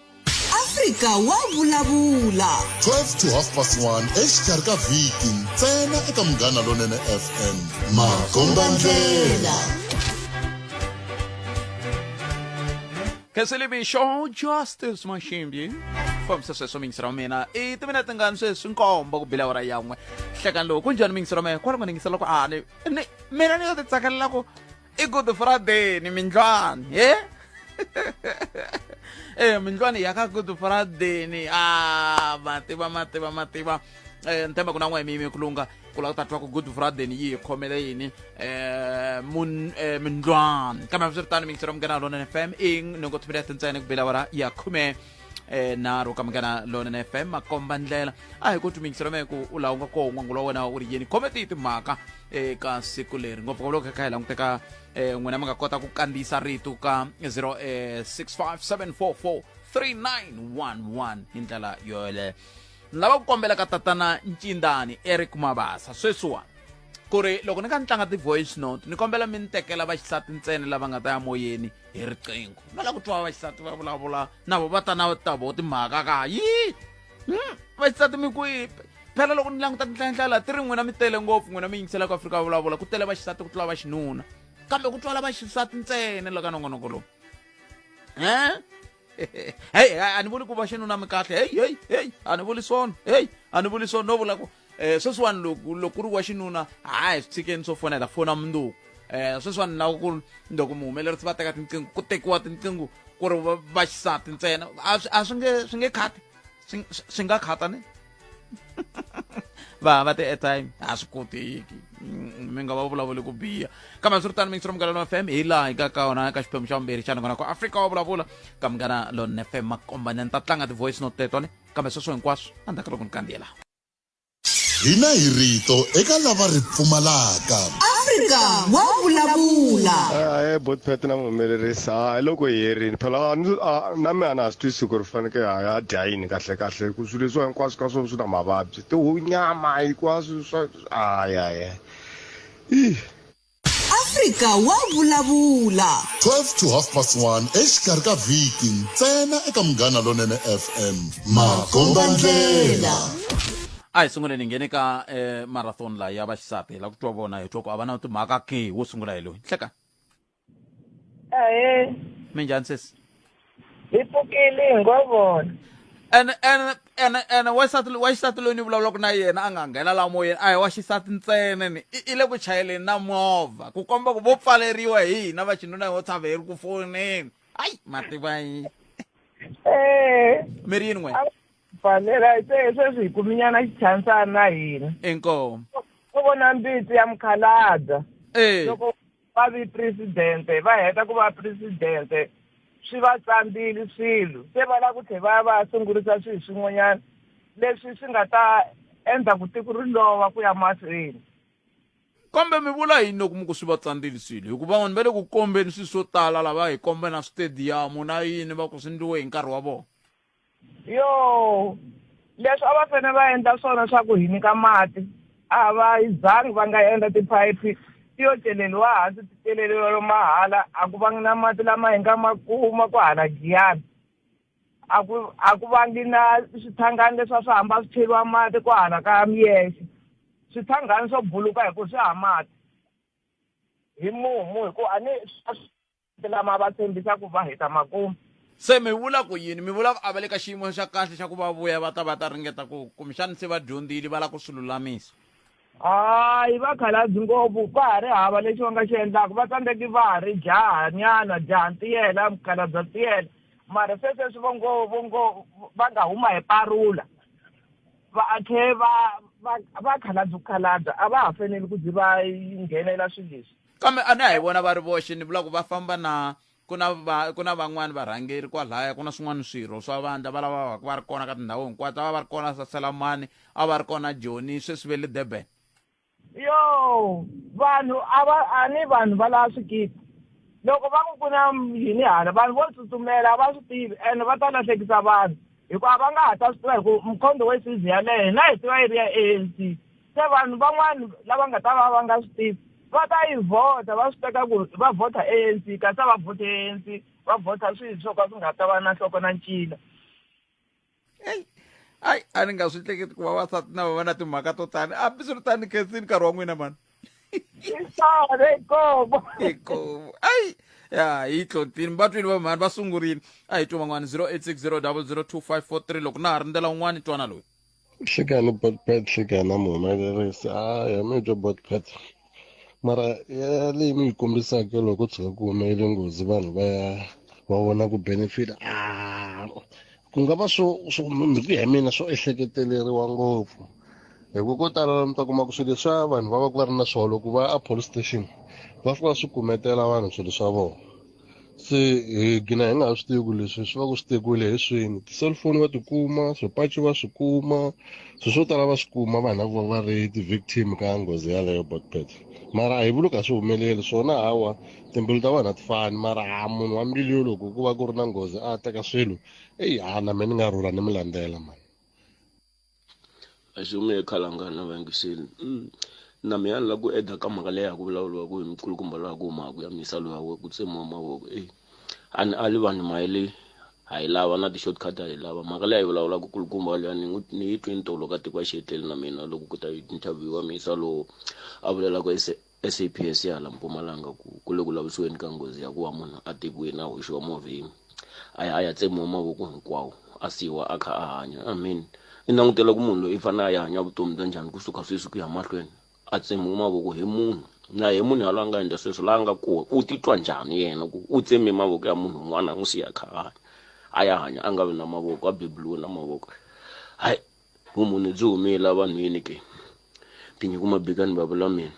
afrika wa vulavula 12 to half past 1 exikarhi ka vhiki ntsena eka munghana lonene fm makombandlela Kesele Bisho, Justice Mashimbi. fambisa sweswo mingisi ra mina i timinete ngani sweswi nkombo ku bila wara yan'we hlekani lowu ku njhani mingisi ra mina kwala ku ningisela ku ani ni mina ni yo ti tsakela ku i good friday ni mindlwana he eh mindlwana ya ka good friday ni a mativa mativa mativa eh ntemba kuna n'we mimi kulunga kula ta twa ku good friday ni yi khomele yini eh mun eh mindlwana kambe swi ri tano mi ngisera munghana lona fm ing ni ngo tshimela tintshane ku bela wara ya khume eh nharhu ka munghana lonene fm makomba ndlela a hi ku tumingisela me ku u laha u nga koho n'wangu lowa wena u ri yini khome tihi timhaka eka siku leri ngopfu ka loko hi kha hi languteka eh n'wina mi nga kota ku kandziyisa rito ka 0 eh 657443911 hi ndlela yoyeleyo ni lava ku kombela ka tatana ncindani eric mabasa sweswiwani ku ri loko ni ka ni tlanga ti-voice note ni kombela mi ni tekela vaxisati ntsena lava nga ta ya moyeni hi riqingho va lava ku twa vaxisati va vulavula na vo va ta na ta vo timhaka ka yii hmm, vaxisati mi kwipe phela loko ni languta tinhlayinhlayila ti ri n'wina mi tele ngopfu n'wina mi yingiselaka afrika va vulavula ku tele vaxisati ku tlula vaxinuna kambe ku twala vaxisati ntsene la ka nongonoko lowu um heyi a ni vuli ku va xinuna mi kahle heyi heyi heyi a ni vuli swona heyi a ni vuli swona no vula ku um sweswiwani loko loko ku ri wa xinuna hayi swi tshikeni swo fonela fona munduku um sweswiwani na ku loko muhumelerisi va teka tinqingho ku tekiwa tinqingho ku ri va xisati ntsena a swi nge swi nge khati swi nga khata ni va hava ti-airtime a swi koteki mm, mi nga va vulavuli ku biha kambe swi ri tani mingisiro munghana lona fm hi laha hi ka ka wona ka xiphemu xa vumbirhi xa ningona ku afrika wa vulavula ka munghana lona fm makombanyani ta tlanga ti-voice note teto ne kambe sweswo hinkwaswo a ndzhaku loko ni kandziyela hina hi rito eka lava ri pfumalaka afrika wa vulavula e botpet na muhumelerisi ha hi loko hi herini phela na mi a na ha swi twisi ku ri faneke ha ya dya yini kahlekahle swilo leswiwa hinkwaswo ka swona swi na mavabyi tihunyama hinkwaswo swa ayaya i afrika wa vulavula 12 to half past 1 exikarhi ka vhiki ntsena eka munghana lonene fm makombandlela a hi sunguleni nghene ka eh, marathon la ya vaxisati la ku twa vona hi twa ku a va na timhaka ke wo sungula hi loyi hleka ahe minjhani sesi hi pfukile hi ngo vona ene ene ene ene wansati wa xisati loyi ni vulavulaka na yena a nga nghena la moyeni a hi wa xisati ntsena ni i i le ku chayeleni na movha ku komba ku vo pfaleriwa hi hina va xinuna hi wo tshava hi ri ku foneni ayi mativa yi ee mi ri yini n'we fanela se sweswi hi kuminyana xichansana na hina inkomu u vona mbitsi ya mukhalada ee loko va vi presidente va heta ku va presidente swi va tsandzile swilo se va lava ku tlhe va ya va ya sungurisa swilo swin'wanyana leswi swi nga ta endla ku tiko ri lova ku ya mahlweni kambe mi vula yini loko mi ku swi va tsandzile swilo hikuva vanhu va le ku kombeni swilo swo tala lava hi kombe na switediyamu na yini va ku swi ndliwe hi nkarhi wa vona yo leswi a va fane va endla swona swa ku hi nyika mati a va zangi va nga endla tiphayiphi ti yo celeriwa hansi ti celeriwa mahala a ku vangi na mati lama hi nga ma kuma ku hala giyana a ku a ku vangi na swithangani leswi a swi hamba swi cheriwa mati ku hala ka miyexe swithangani swo buluka hi ku swi ha mati hi mumu hi ku a ni Lama va tshembisa ku va heta makumu. Se mi vula ku yini? Mi vula ku a va le ka xiyimo xa kahle xa ku va vuya va ta va ta ringeta ku kumbexani se va dyondzile va lava ku swi lulamisa? Hayi, va khalabyi ngopfu, ka ha ri hava lexi va nga xi endlaka. Va tsandzeki va ha ri jahanyana, jaha ntiyela, mukhalabya ntiyela, mara se sweswi vo ngo vo ngo va nga huma hi parula va a tlhe va va va khalabya khalabya a va ha faneli ku ze va nghenela swilo leswi. kambe a ni a hi vona va ri voxe ni vula ku va famba na ku na va ku na van'wani varhangeri kwalaya ku na swin'wana swirho swa vandla va lava vaku va ri kona ka tindhawu hinkwato va va ri kona saselamani a va ri kona joni sweswi ve le durban yo vanhu a va a ni vanhu va lava swikiti loko va ku ku na yini hala vanhu vo tsutsumela a va swi tivi ene va ta lahlekisa vanhu hikuva va nga ha ta swi tiva hi ku mkhondo we sizi yaleyo hina hi tiva yi ri ya a n c se vanhu van'wana lava nga ta va va nga swi tivi va ta yi vhota va swi teka ku va vhota anc kasi a va vhoti anc va vhota swilo swo ka swi nga ta va na nhloko na ncila ayi a ni nga swi hleketi ku vavasati na va va na timhaka to tani hambiswiritani khensini nkarhi wa n'wina mani isore ikobo ikobo ayi ya yi tlontini va twini va mhani va sungurile a hi twi van'wana 0860 loko na ha ri ndlela un'wana twana loyi hleka ni botpad hleka na muhumelerisi a ya mi byo botpad mara ya leyi mi yi kombisaka loko ku tshuka ku humelele nghozi vanhu va ya va vona ku benefit a ku nga va swo swo hi ku ya hi mina swo ehleketeleriwa ngopfu hi ku ko tala mi ta kuma ku swilo leswa vanhu va va ku va ri na swona loko va ya a police station va fika va swi kumetela vanhu swilo swa vona se hi gina hi nga ha swi tivi ku leswi swi va ku swi tekiwile hi swini ti-cellphone va tikuma swipaci va swi kuma swilo swo tala va swi kuma vanhu lavo va ri ti-victim ka nghozi yaleyo botpet mara a hi vuli ka swi humeleli swona hawa timbilu ta vanhu a ti fani mara ha munhu wa mbilu yo loko ku va ku ri na nghozi a teka swilo eyi ha na me ni nga rhula ni mi landzela mani Kasi u nge he khalanga na vayingiseli mm. na mi ya ni la ku eda ka mhaka leyi ya ku vulavuriwaka hi mikulukumba loyi a ku humaka ya misalo ya we ku tsemiwa mavoko e a ni ali vanhu mayele ha yi lava na ti-shortcut ha yi lava mhaka leyi a yi vulavulaka kulukumba leya ni n'wi ni yi twe ni tolo ka tiko a xi hetleli na mina loko ku ta interviewa misalo a vulelaka SAPS ya hala Mpumalanga ku ku le ku lavisweni ka nghozi ya ku va munhu a tekiwile a hoxiwa movheni a ya a ya tsemiwa mavoko hinkwawo a siyiwa a kha a hanya i mean i langutela ku munhu loyi i fanele a ya hanya vutomi bya njhani kusuka sweswi ku ya mahlweni a tsemiwe mavoko hi munhu na hi munhu yaloye a nga endla sweswo laha a nga kona u titwa njhani yena ku u tseme mavoko ya munhu un'wana a n'wi siya a kha a hanya a ya hanya a nga vi na mavoko a beburiwe na mavoko hayi Vumunhu byi humile evanhwini ke? Tinyiku Mabikani Babula mina.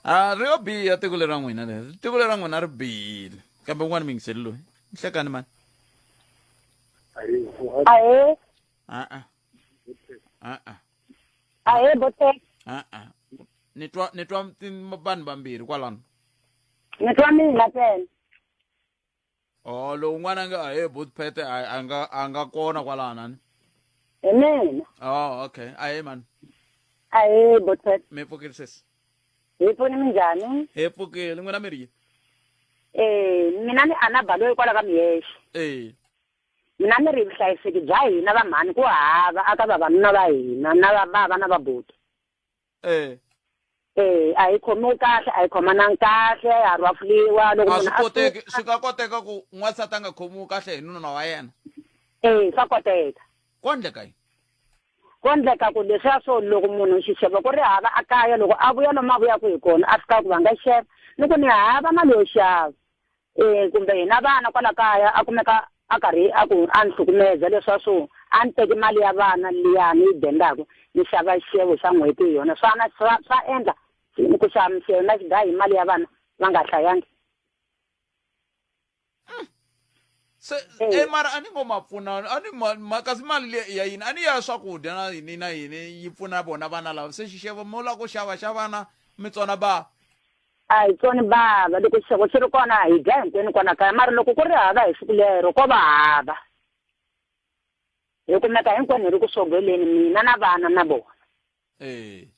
A ri yo biha tiko lera n'wina leri tiko lera n'wina ri bihile kambe un'wana mingiseli loyi nhlekani mani ahe a-a a-a ahe bote a-a ni twa ni twa vanhu vambirhi kwalano ni twa mina tsena o lowu n'wana a nge a he booth pete a nga a nga kona kwalana ni hi mina o okay a he mani a hi booth pete mi pfukile sesi hi pfuni minjhani hi pfukile n'wina mi ri yini eh mina ni ana balo hikwalaho ka miyexe eh mina ni ri vuhlayiseki bya hina va mhani ku hava aka vavanuna va hina na va va va na vabuti eh eh a yi khomiwi kahle a yi khomanangi kahle ya ha rwafuliwa loko a swi munhu a koteki suka- swi nga koteka ku n'wansati a nga khomiwi kahle hi nuna wa yena eh swa koteka ko ndleka yini ko endleka ku leswiya swo loko munhu xixevo ku ri hava a kaya loko a vuya lomu a vuyaka hi kona a fika ku va nga xava ni ku ni hava mali yo xava E, kumbe hina vana kwala kaya a kumeka a karhi a ku a ni hlukumeza leswa swo a ni teki mali ya vana liya ni yi dendaku ni xava xixevo xa n'hweti hi yona swana swa swa endla ku xava mixevo na xigayi hi mali ya vana va nga hlayangi se e mara a ni ngo ma pfuna a ni ma kasi mali le ya yini a ni ya swakudya na yini na yini yi pfuna vona vana lava se xixevo mo la ku xava xa vana mi tsona ba A hi tsoni bava, loko xixevo xi ri kona hi dya hinkwenu kwala kaya mara loko ku ri hava hi siku lero ko va hava. Hi kumeka hinkwenu hi ri ku swogweleni mina na vana na vona. Ee.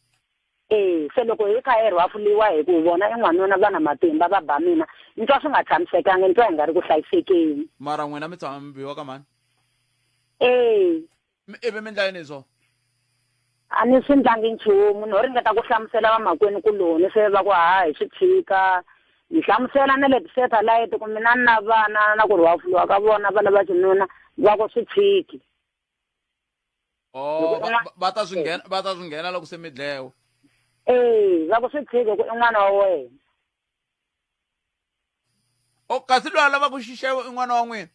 Ee, se loko hi kha hi rhwafuliwa hi ku vona i n'wanuna va na matimba va ba mina, ni twa swi nga tshamisekanga ni twa hi nga ri ku hlayisekeni. Mara n'wina mi tshama mi biwa ka mhani? Ee. Mi ivi mi ndla yini so? A ni swi ndlangi nchumu. No ringeta ku hlamusela vamakwenu-kuloni se va ku haha hi swi tshika. Ni hlamusela na le tisethalayiti ku mina ni na vana na ku rhwafuliwa ka vona va lava xinuna va ku swi tshiki. Oh, va- va- va ta swi nghena va ta swi nghena loko se mi dlewe. Ee, va ku swi tshiki ku i n'wana wa wena. o kasi loyi a lavaka xixevo i n'wana wa n'wina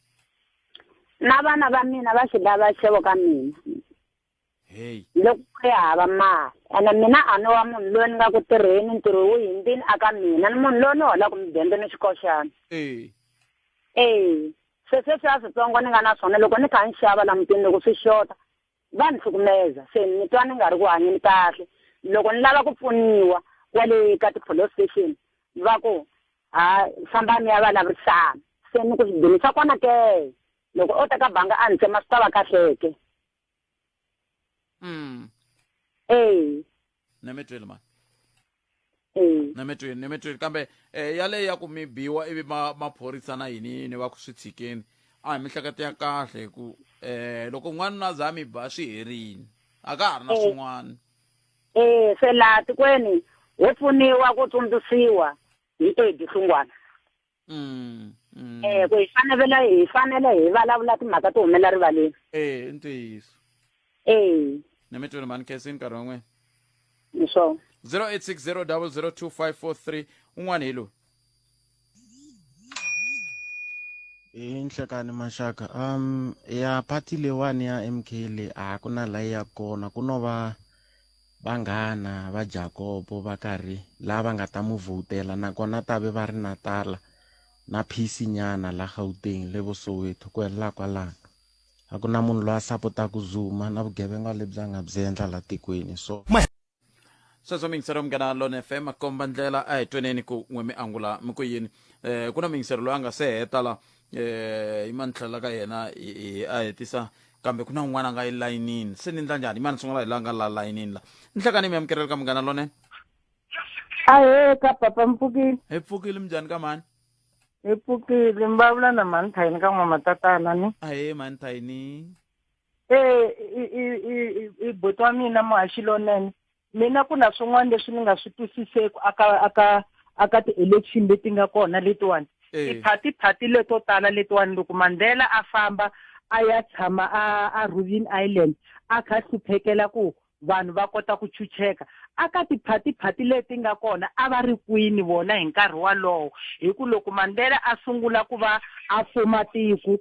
na vana va mina va swi lava xixevo ka mina heyi loko ku ri hava mali ene mina a ni wa munhu loyi ni nga ku tirheni ntirho wu hindini a ka mina ni munhu loyi ni holaka mudende ni xikoxana e ee se sweswi a switsongo ni nga na swona loko ni kha ni xava languteni loko swi xota va ni cukumeta se ni twa ni nga ri ku hanyeni kahle loko ni lava ku pfuniwa kwale ka ti-police station va ku ha fambani ya vulavurisana se ni ku swidini swa kona ke loko o ta ka banga a ni tsema swi ta va kahleke mm. ee ne mi twile mani Mm. ne mi twile ne mi twile kambe eh, yaleyo ya ku mi biwa ivi ma- maphorisa na yini yini va ku swi tshikeni a hi mihleketo ya kahle hi ku eh loko n'wana na za mi ba swi herini a ka ha ri na Mm. swin'wana Eh, se laha tikweni ho pfuniwa ku tsundzuxiwa hi Eddie Hlungwana. Mm, mm. Eh, ku hi fanele hi fanele hi vulavula timhaka to humela rivaleni eh i ntiyiso eh ni mi twile mhani khesi nkarhi wan'wena ni swona 0860002543 un'wana hi lowu hi nhlekani maxaka um ya party leyiwani ya m k le a ku na layi ya kona ku no va Vanghana va Jakopo va karhi laha va nga ta mu vhotela nakona ta ve va ri na tala na phisi nyana la Gauteng le vo Soweto ku helela kwalano. A ku na munhu loyi a sapotaka Zuma na vugevenga lebyi a nga byi endla la tikweni so. Sweswo miyingiseri ya Munghana Lone FM makomba ndlela a hi tweneni ku n'we mi angula mi ku yini ku na muyingiseri loyi a nga se heta la eh imani tlhela ka yena hi- hi- a hetisa kambe ku na un'wana a nga elayinini se ni ndla njhani imani sungula hi la nga la layinini la ni hlekani mi amukeleli ka munghana lonene ahee ka papa mpfukile hi pfukile minjhani ka mani hi pfukile mi vulavula na mhani thayini ka n'wamatatana ni ahee mani thayini ee i i i i buti wa mina muhaxi lonene mina ku na swin'wana leswi ni nga swi twisiseki aka aka aka ti-election leti nga kona letiwani eh. tiphati phati leto tala letiwani loko mandela a famba a ya tshama a a rubin island a kha hluphekela ku vanhu va kota ku chucheka a ka tiphatiphati leti nga kona a va ri kwini vona hi nkarhi walowo hi ku loko mandela a sungula ku va a fuma tiko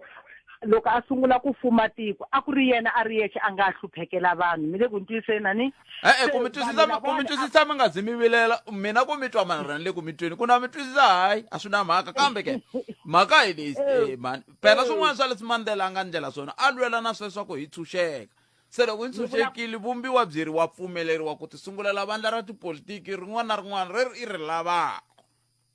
loko a sungula ku fuma tiko a ku ri yena a ri yexe a nga hluphekela vanhu mi le ku ntwiseni ani e-e ku mi twisisa ku mi twisisa mi nga zi mi vilela mina ku mi twa mara ni le ku mi tweni ku na mi twisisa hayi a swi na mhaka kambe ke mhaka hi leyi eh, eh, mani phela swin'wana swa leswi mandela a nga ndlela swona a lwela na sweswaku hi tshunxeka Se loko yi ntshunxekile, vumbiwa byeri wa pfumeleriwa ku tisungulela vandla ra tipolitiki rin'wana na rin'wana rer i ri lavaka.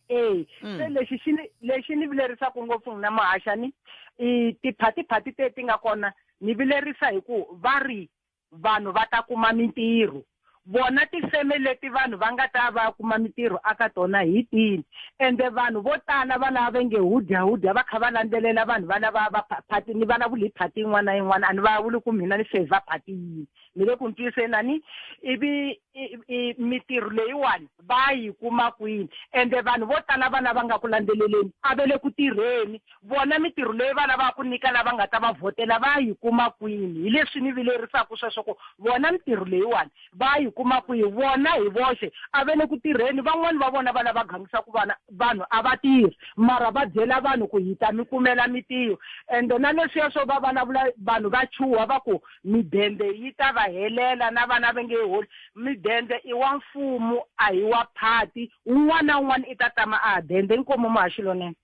E, se hmm. lexi xi ni lexi ni vilerisaka ngopfu n'wina muhaxani i tiphatiphati teti nga kona ni vilerisa hi ku va ri vanhu va ta kuma mintirho. vona tifeme leti vanhu va nga ta va kuma mitirho aka tona hi tini ende vanhu vo tala va lava va nge hudyahudya va kha va landzelela vanhu va lava va phati ni vulavuli hi phati yin'wana na yin'wana a ni vulavuli ku mina ni favor phati yini mi le ku ntwiseni a ni ivi mitirho leyiwani Va yi kuma kwini? Ende vanhu vo tala va lava nga ku landzeleleni a ve le ku tirheni. Vona mitirho leyi va lavaka ku nyika lava nga ta va vhotela va yi kuma kwini? Hi leswi ni vilerisaka sweswo ku vona mitirho leyiwani va yi kuma kwihi? Vona hi voxe a ve le ku tirheni. Van'wana va vona va lava gangisa ku vana vanhu a va tirhi, mara va byela vanhu ku hi ta mi kumela mitirho. Ende na leswiya swo va vulavula vanhu va chuha va ku, Midende yi ta va helela na vana va nge holi. Midende i wa mfumo a hi wa phati. Un'wana na un'wana i ta tama a dende. Inkomu muhaxi lonene.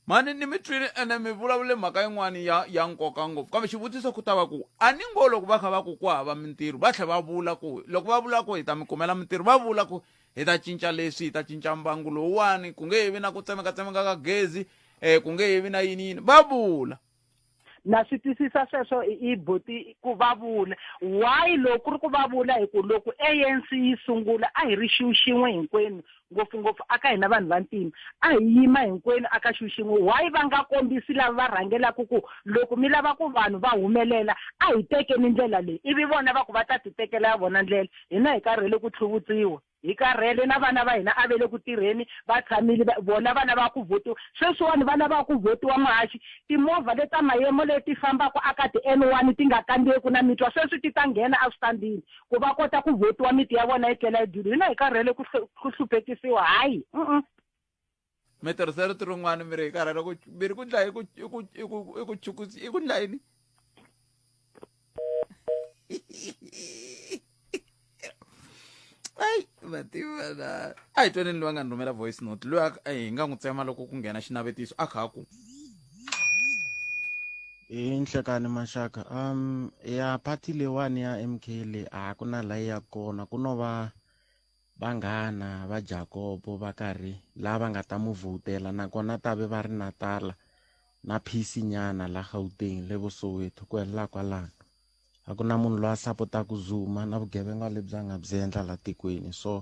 Mhani ni mi twile ene mi vulavule mhaka yin'wana ya ya nkoka ngopfu kambe xivutiso ku ta va ku a ni ngo loko va kha va ku ku hava mintirho va tlhe va vula ku loko va vula ku hi ta mi kumela mintirho va vula ku hi ta cinca leswi hi ta cinca mbangu lowuwani ku nge he vi na ku tsemekatsemeka ka gezi um ku nge he vi na yini yini va vula na swi twisisa sweswo i boti ku va vula why loko ku ri ku va vula hi ku loko anc yi sungula a hi ri xiwu xin'we hinkwenu ngopfungopfu aka hina vanhu vantima a hi yima hinkwenu aka xiwu xin'we why va nga kombisi lava va rhangelaka ku loko mi lava ku vanhu va humelela a hi tekeni ndlela leyi ivi vona va ku va ta ti tekela ya vona ndlela hina hi karhele ku tlhuvutsiwa Hi karhele na vana va hina a ve le ku tirheni va tshamile va vona va lava ku vhotiwa sweswiwani va lava ku vhotiwa muhaxi timovha le ta mayemo le ti fambaka a ka ti N one ti nga kandziyeku na mitwa sweswi ti ta nghena a switandini ku va kota ku vhotiwa miti ya vona yi tlela yi dyile hina hi karhele ku ku hluphekisiwa hayi mi tirhisa rito rin'wana mi ri hi karhala ku mi ri ku dlaya i ku i ku i ku i ku chukusi i ku dlaya yini ayi vativana a hi twaneni loyi a nga ni rhumela voice note loyi a a hi nga n'wi tsema loko ku nghena xinavetiso a kha a ku hi nhlekani maxaka um ya party leyiwani ya mk leyi a ku na layi ya kona ku no va Vanghana va Jakobo va karhi la va nga ta mu vhotela nakona ta ve va ri na tala na phisi nyana la Gauteng le vo Soweto ku helela kwalano a ku na munhu loyi a sapotaka Zuma na vugevenga lebyi a nga byi endla la tikweni so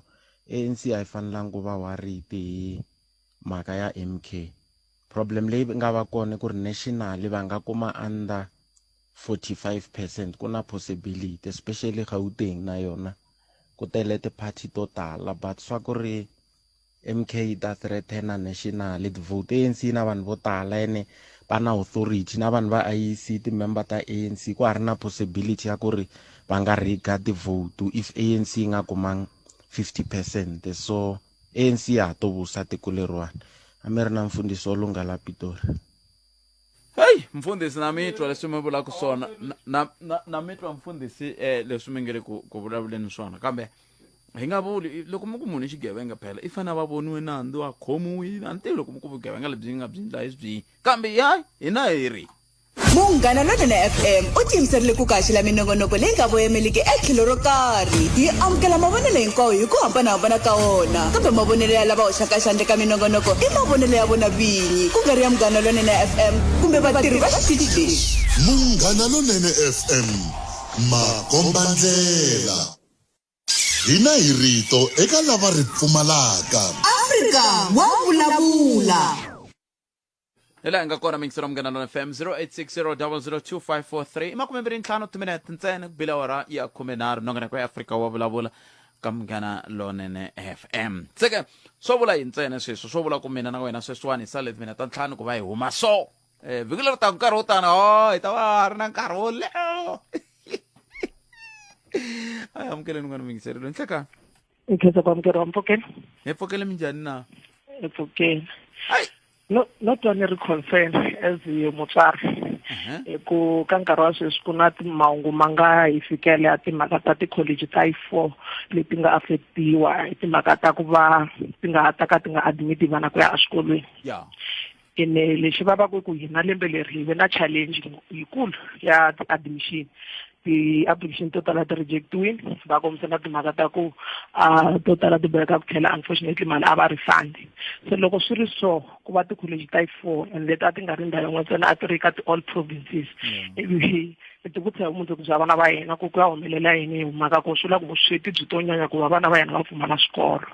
ANC a yi fanelanga ku va worried hi mhaka ya MK problem leyi nga va kona ku ri national va nga kuma under 45 percent ku na possibility especially Gauteng na yona ku tele ti-party to tala but swa ku ri MK yi ta threatena national ti-vote ANC yi na vanhu vo tala ene va na authority na vanhu va IEC ti-member ta ANC ku ha ri na possibility ya ku ri va nga riga ti-vote if ANC yi nga kumanga 50 percent so ANC ya ha to vusa tiko leriwani a mi ri na mfundhisi wo lungha la Pitori heyi mfundhisi na mi twa leswi mi vulaka swona na- na- na- na mi twa mfundhisi um leswi mi nge le ku ku vulavuleni swona kambe hi nga vuli loko mi ku munhu i xigevenga phela i fanele a va voniwe nandzu a khomiwile a ni tivi loko mi ku vugevenga lebyi nga byi ndla hi byihi kambe ya hina hi ri munghana lonene fm u tiyimiserile ku kaxela minongonoko leyi nga voyameliki etlhelo ro karhi yi amukela mavonelo hinkwawo hi ku hambanahambana ka wona kambe mavonelo ya lava hoxaka xandle ka minongonoko i mavonelo ya vona vini yini ku nga ri ya munghana lonene fm kumbe vatirhi va xitichi lexi munghana lonene fm makombandlela hina hi rito eka lava ri pfumalaka afrika wa vulavula hi laha hi nga kona mingisero munghana lona fm 0860 i makume mbirhi ntlhanu timinete ntsena ku bila wara ya khumenharhu nongoneko ya afrika wa vulavula ka munghana lonene fm se ke swo vula yi ntsena sweswo swo vula ku mina na wena sweswiwani hi sale mina ta ntlhanu ku va hi huma so um vhiki leri taka nkarhi wo tani o oh, hi ta va ri na nkarhi wo leho a hi amukeleni n'wana miyingiserilo ni hlekani hi khensa ku amukeriwa mpfokeni hi pfokele minjhani na hi pfokeni no no twa ni ri concern as mutswari uh-huh. hi ku ka nkarhi wa sweswi ku na mahungu ma nga hi fikele ya timhaka ta ti-college ta yi four leti nga affectiwa hi timhaka ta ku va ti nga ha ta ka ti nga admiti vana ku ya exikolweni ene lexi vavaka ku hina lembe leri hi ve na challenge yikulu ya ti-admission ti-application to tala ti rejectiwile va kombisa na timhaka ta ku a to tala ti boheka ku tlhela unfortunately mali a va refund se loko swi ri so ku va ti-college ta yi-four and leti a ti nga ri ndhawu yin'we ntsena a ti ri ka ti-all provinces ivi ti vutisa hi vumundzuku bya vana va yena ku ku ya humelela yini hi mhaka ku swi la ku vusweti byi to nyanya ku va vana va yena va pfumala swikolo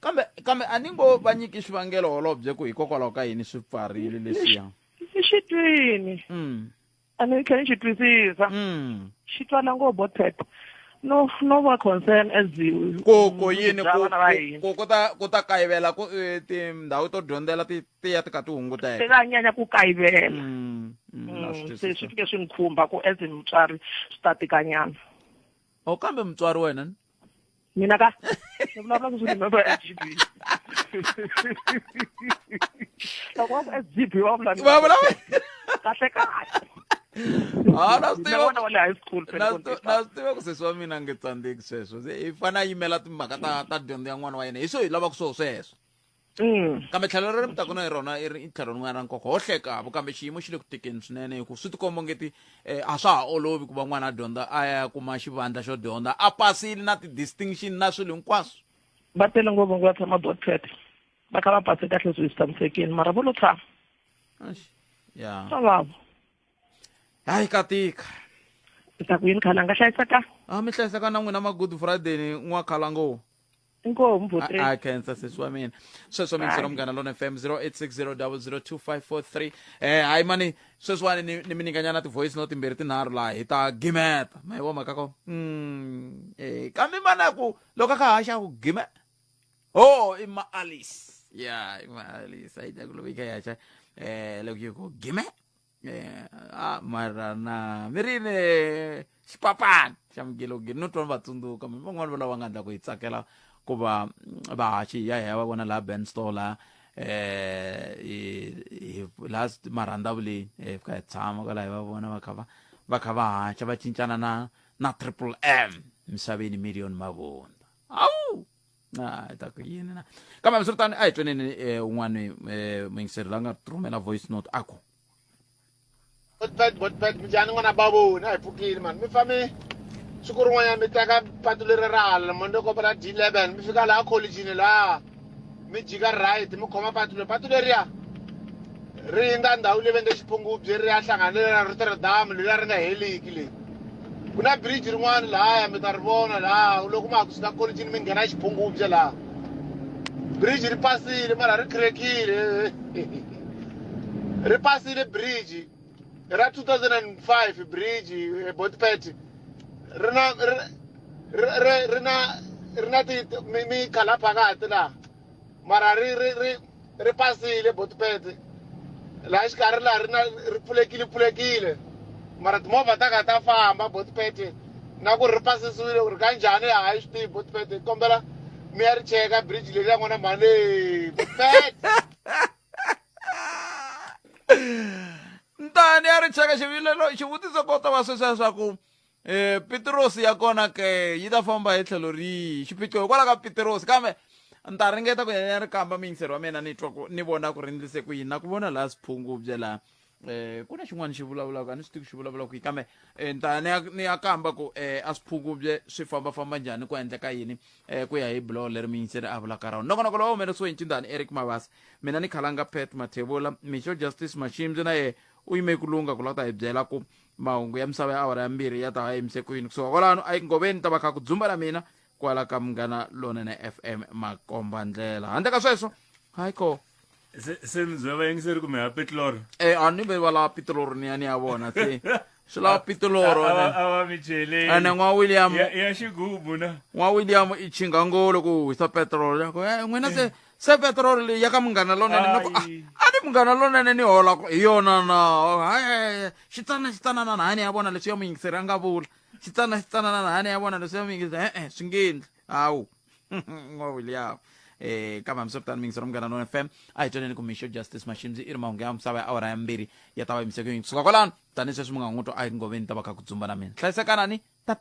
kambe kambe a ni ngo va nyiki xivangelo holobye ku hikokwalaho ka yini swi pfarile leswiya exitwini mm. a ni tlhela ni xi twisisa mm. xi twana ngo bo tete no no va concern as koko yini ku ku ta ku ta kayivela ku eh, tindhawu to dyondzela ti ti ya ti ka ti hunguteka ta nyanya ku kayivela mm, mm, mm, se swi fike swi ni khumba ku as mutswari swi ta tikanyana o kambe mutswari wena mina ka ni vulavula ku swi remember SGB loko wa ku SGB wa vula ni- Va vulavula- kahle kahle Ah, na swi Mina tiva- n'wana wa le high school phela na ku swi- na swi tiva ku sesi wa mina a nge tsandzeki sweswo Se i fane a yimela timhaka ta ta dyondzo ya n'wana wa yena hi swo hi lavaka swo sweswo mm. kambe tlhelo ra mutaka na hi rona i ri tlhelo rin'wana ra nkoka ho hlekavo kambe xiyimo xi le ku tekeni swinene hi ku swi tikomba ngeti um a swa ha olovi ku va n'wana a dyondza a ya kuma xivandla xo dyondza a pasile na ti-distinction na swilo hinkwaswo va tele ngopfu ngi va tshama botset va kha va pase kahle swi swi tshamisekile mara vo lo tshama ya swa vavo hayi ka tika i ta ku yini khala nga hlayisaka a mi hlayisaka na n'wina ma-good friday n'wakhalangowo inkoho mvo a three a khensa sesi wa mina sweswo mi yingisela munghana lona fm 0860002543 eh hayi mani sweswiwani ni ni mi nyikanyana ti-voice no timbirhi tinharhu laha hi ta gimeta ma yi voma ka ko Mm, eh kambe mana ku loko a kha haxa ku gime ho i maalis ya i maalis a yi ta ku loko yi kha yi haxa um loko yi ku gime Eh, ah, mara na mi ri ni xipapani xa mugilogilo no twa ni va tsundzuka mi van'wani va lava nga ndla ku hi tsakela ku va mm, va haxi hi ya hi ya va vona laha band store laha eh hi- hi- laha st- marhandavuleni hi fika hi tshama kwalaho hi va vona va kha va va kha va haxa va cincana na na triple m misaveni million mavundza awu Ah, hi ta ku yini na kambe hambiswiritano a hi tweneni um un'wana um yingiseri la nga rhumela voice note a ku botpet botpet minjhani n'wana baboni a hi pfukile mani mi fambe siku rin'wanyana mi teka patu leri ra hala monde kopela d eleven mi fika laha collegini laha mi jika right mi khoma patu leri patu leriya ri nga ndhawu leyi va nge xiphungubye ri ya hlanganela na rotterdam leriya ri nga heliki leyi ku na bridge rin'wana lahaya mi ta ri vona laha loko ma ha ku suka kolitini mi nghena xiphungubye laha bridge ri pasile mara ri crackile ri pasile bridge ra 2005 bridge ebotpet ri na ri na ri na ti mi khala phakati laha mara ri ri ri ri pasile botpet laha xikarhi laha ri na ri pfulekile pfulekile mara timovha ta kha ta famba botpet na ku ri ri pasisiwile ri ka njhani a hi swi tivi botpet hi kombela mi ya ri cheka bridge leri ya n'wana mhani leyi botpet ntani ya ri cheka xivilelo xivutiso ko ta va sweswiya swa ku e pitirosi ya kona ke yi ta famba hi tlhelo rihi xiphiqo hikwalaho ka pitirosi kambe ni ta ringeta ku yena ri kamba muyingiseri wa mina ni twa ku ni vona ku ri ndlise ku yini na ku vona laha swiphungubye laha um ku na xin'wana xi vulavulaka a ni swi tivi xi vulavula ku yi kambe um ni ta ni ya ni ya kamba ku um a swiphungubye swi fambafamba njhani ku endleka yini um ku ya hi biloho leri miyingiseri a vulaka rona nokonoko lowu humeleriwe hi ncindani eric mabasa mina ni khalanga pet mathevula mixo justice maximzi na yehe u yime ku lunga ku lava ta hi byela ku mahungu ya misava ya awara ya mbirhi ya ta va yimise ku yini kusuka kwalano a yi ngoveni ta va kha ku dzumba ra mina kwala ka munghana lonene fm makomba ndlela handle ka sweswo hayi ko se se mi byela vayingiseri kumbe ha petloro e a ni ve va lava pitoloro ni ya ni ya vona se swi lava pitoloro a va- a va mi cheleli ene n'wa william ya ya xigubu na n'wa william i chingangolo ku hisa petrol ya ku e n'wina se se petiroli leyi ya ka munghana lonene ni ku a Hayi. a ni munghana lonene ni holaka hi yona na hayi xitsana xitsanana na hani ya vona leswi ya muyingiseri a nga vula xitsana xitsanana na hani ya vona leswi ya muyingiseri e-e swi nge endli hawu n'wa william um kambe hambiswiritano muyingiseri wa munghana lonene fm a hi twaneni ku mixo justice maximzi i ri mahungu ya misava ya awara ya mbirhi ya ta va yimiseke yini kusuka kwalano tanihi sweswi mungan'wuto a hi ngoveni ta va kha ku dzumba na mina hlayisekanani tata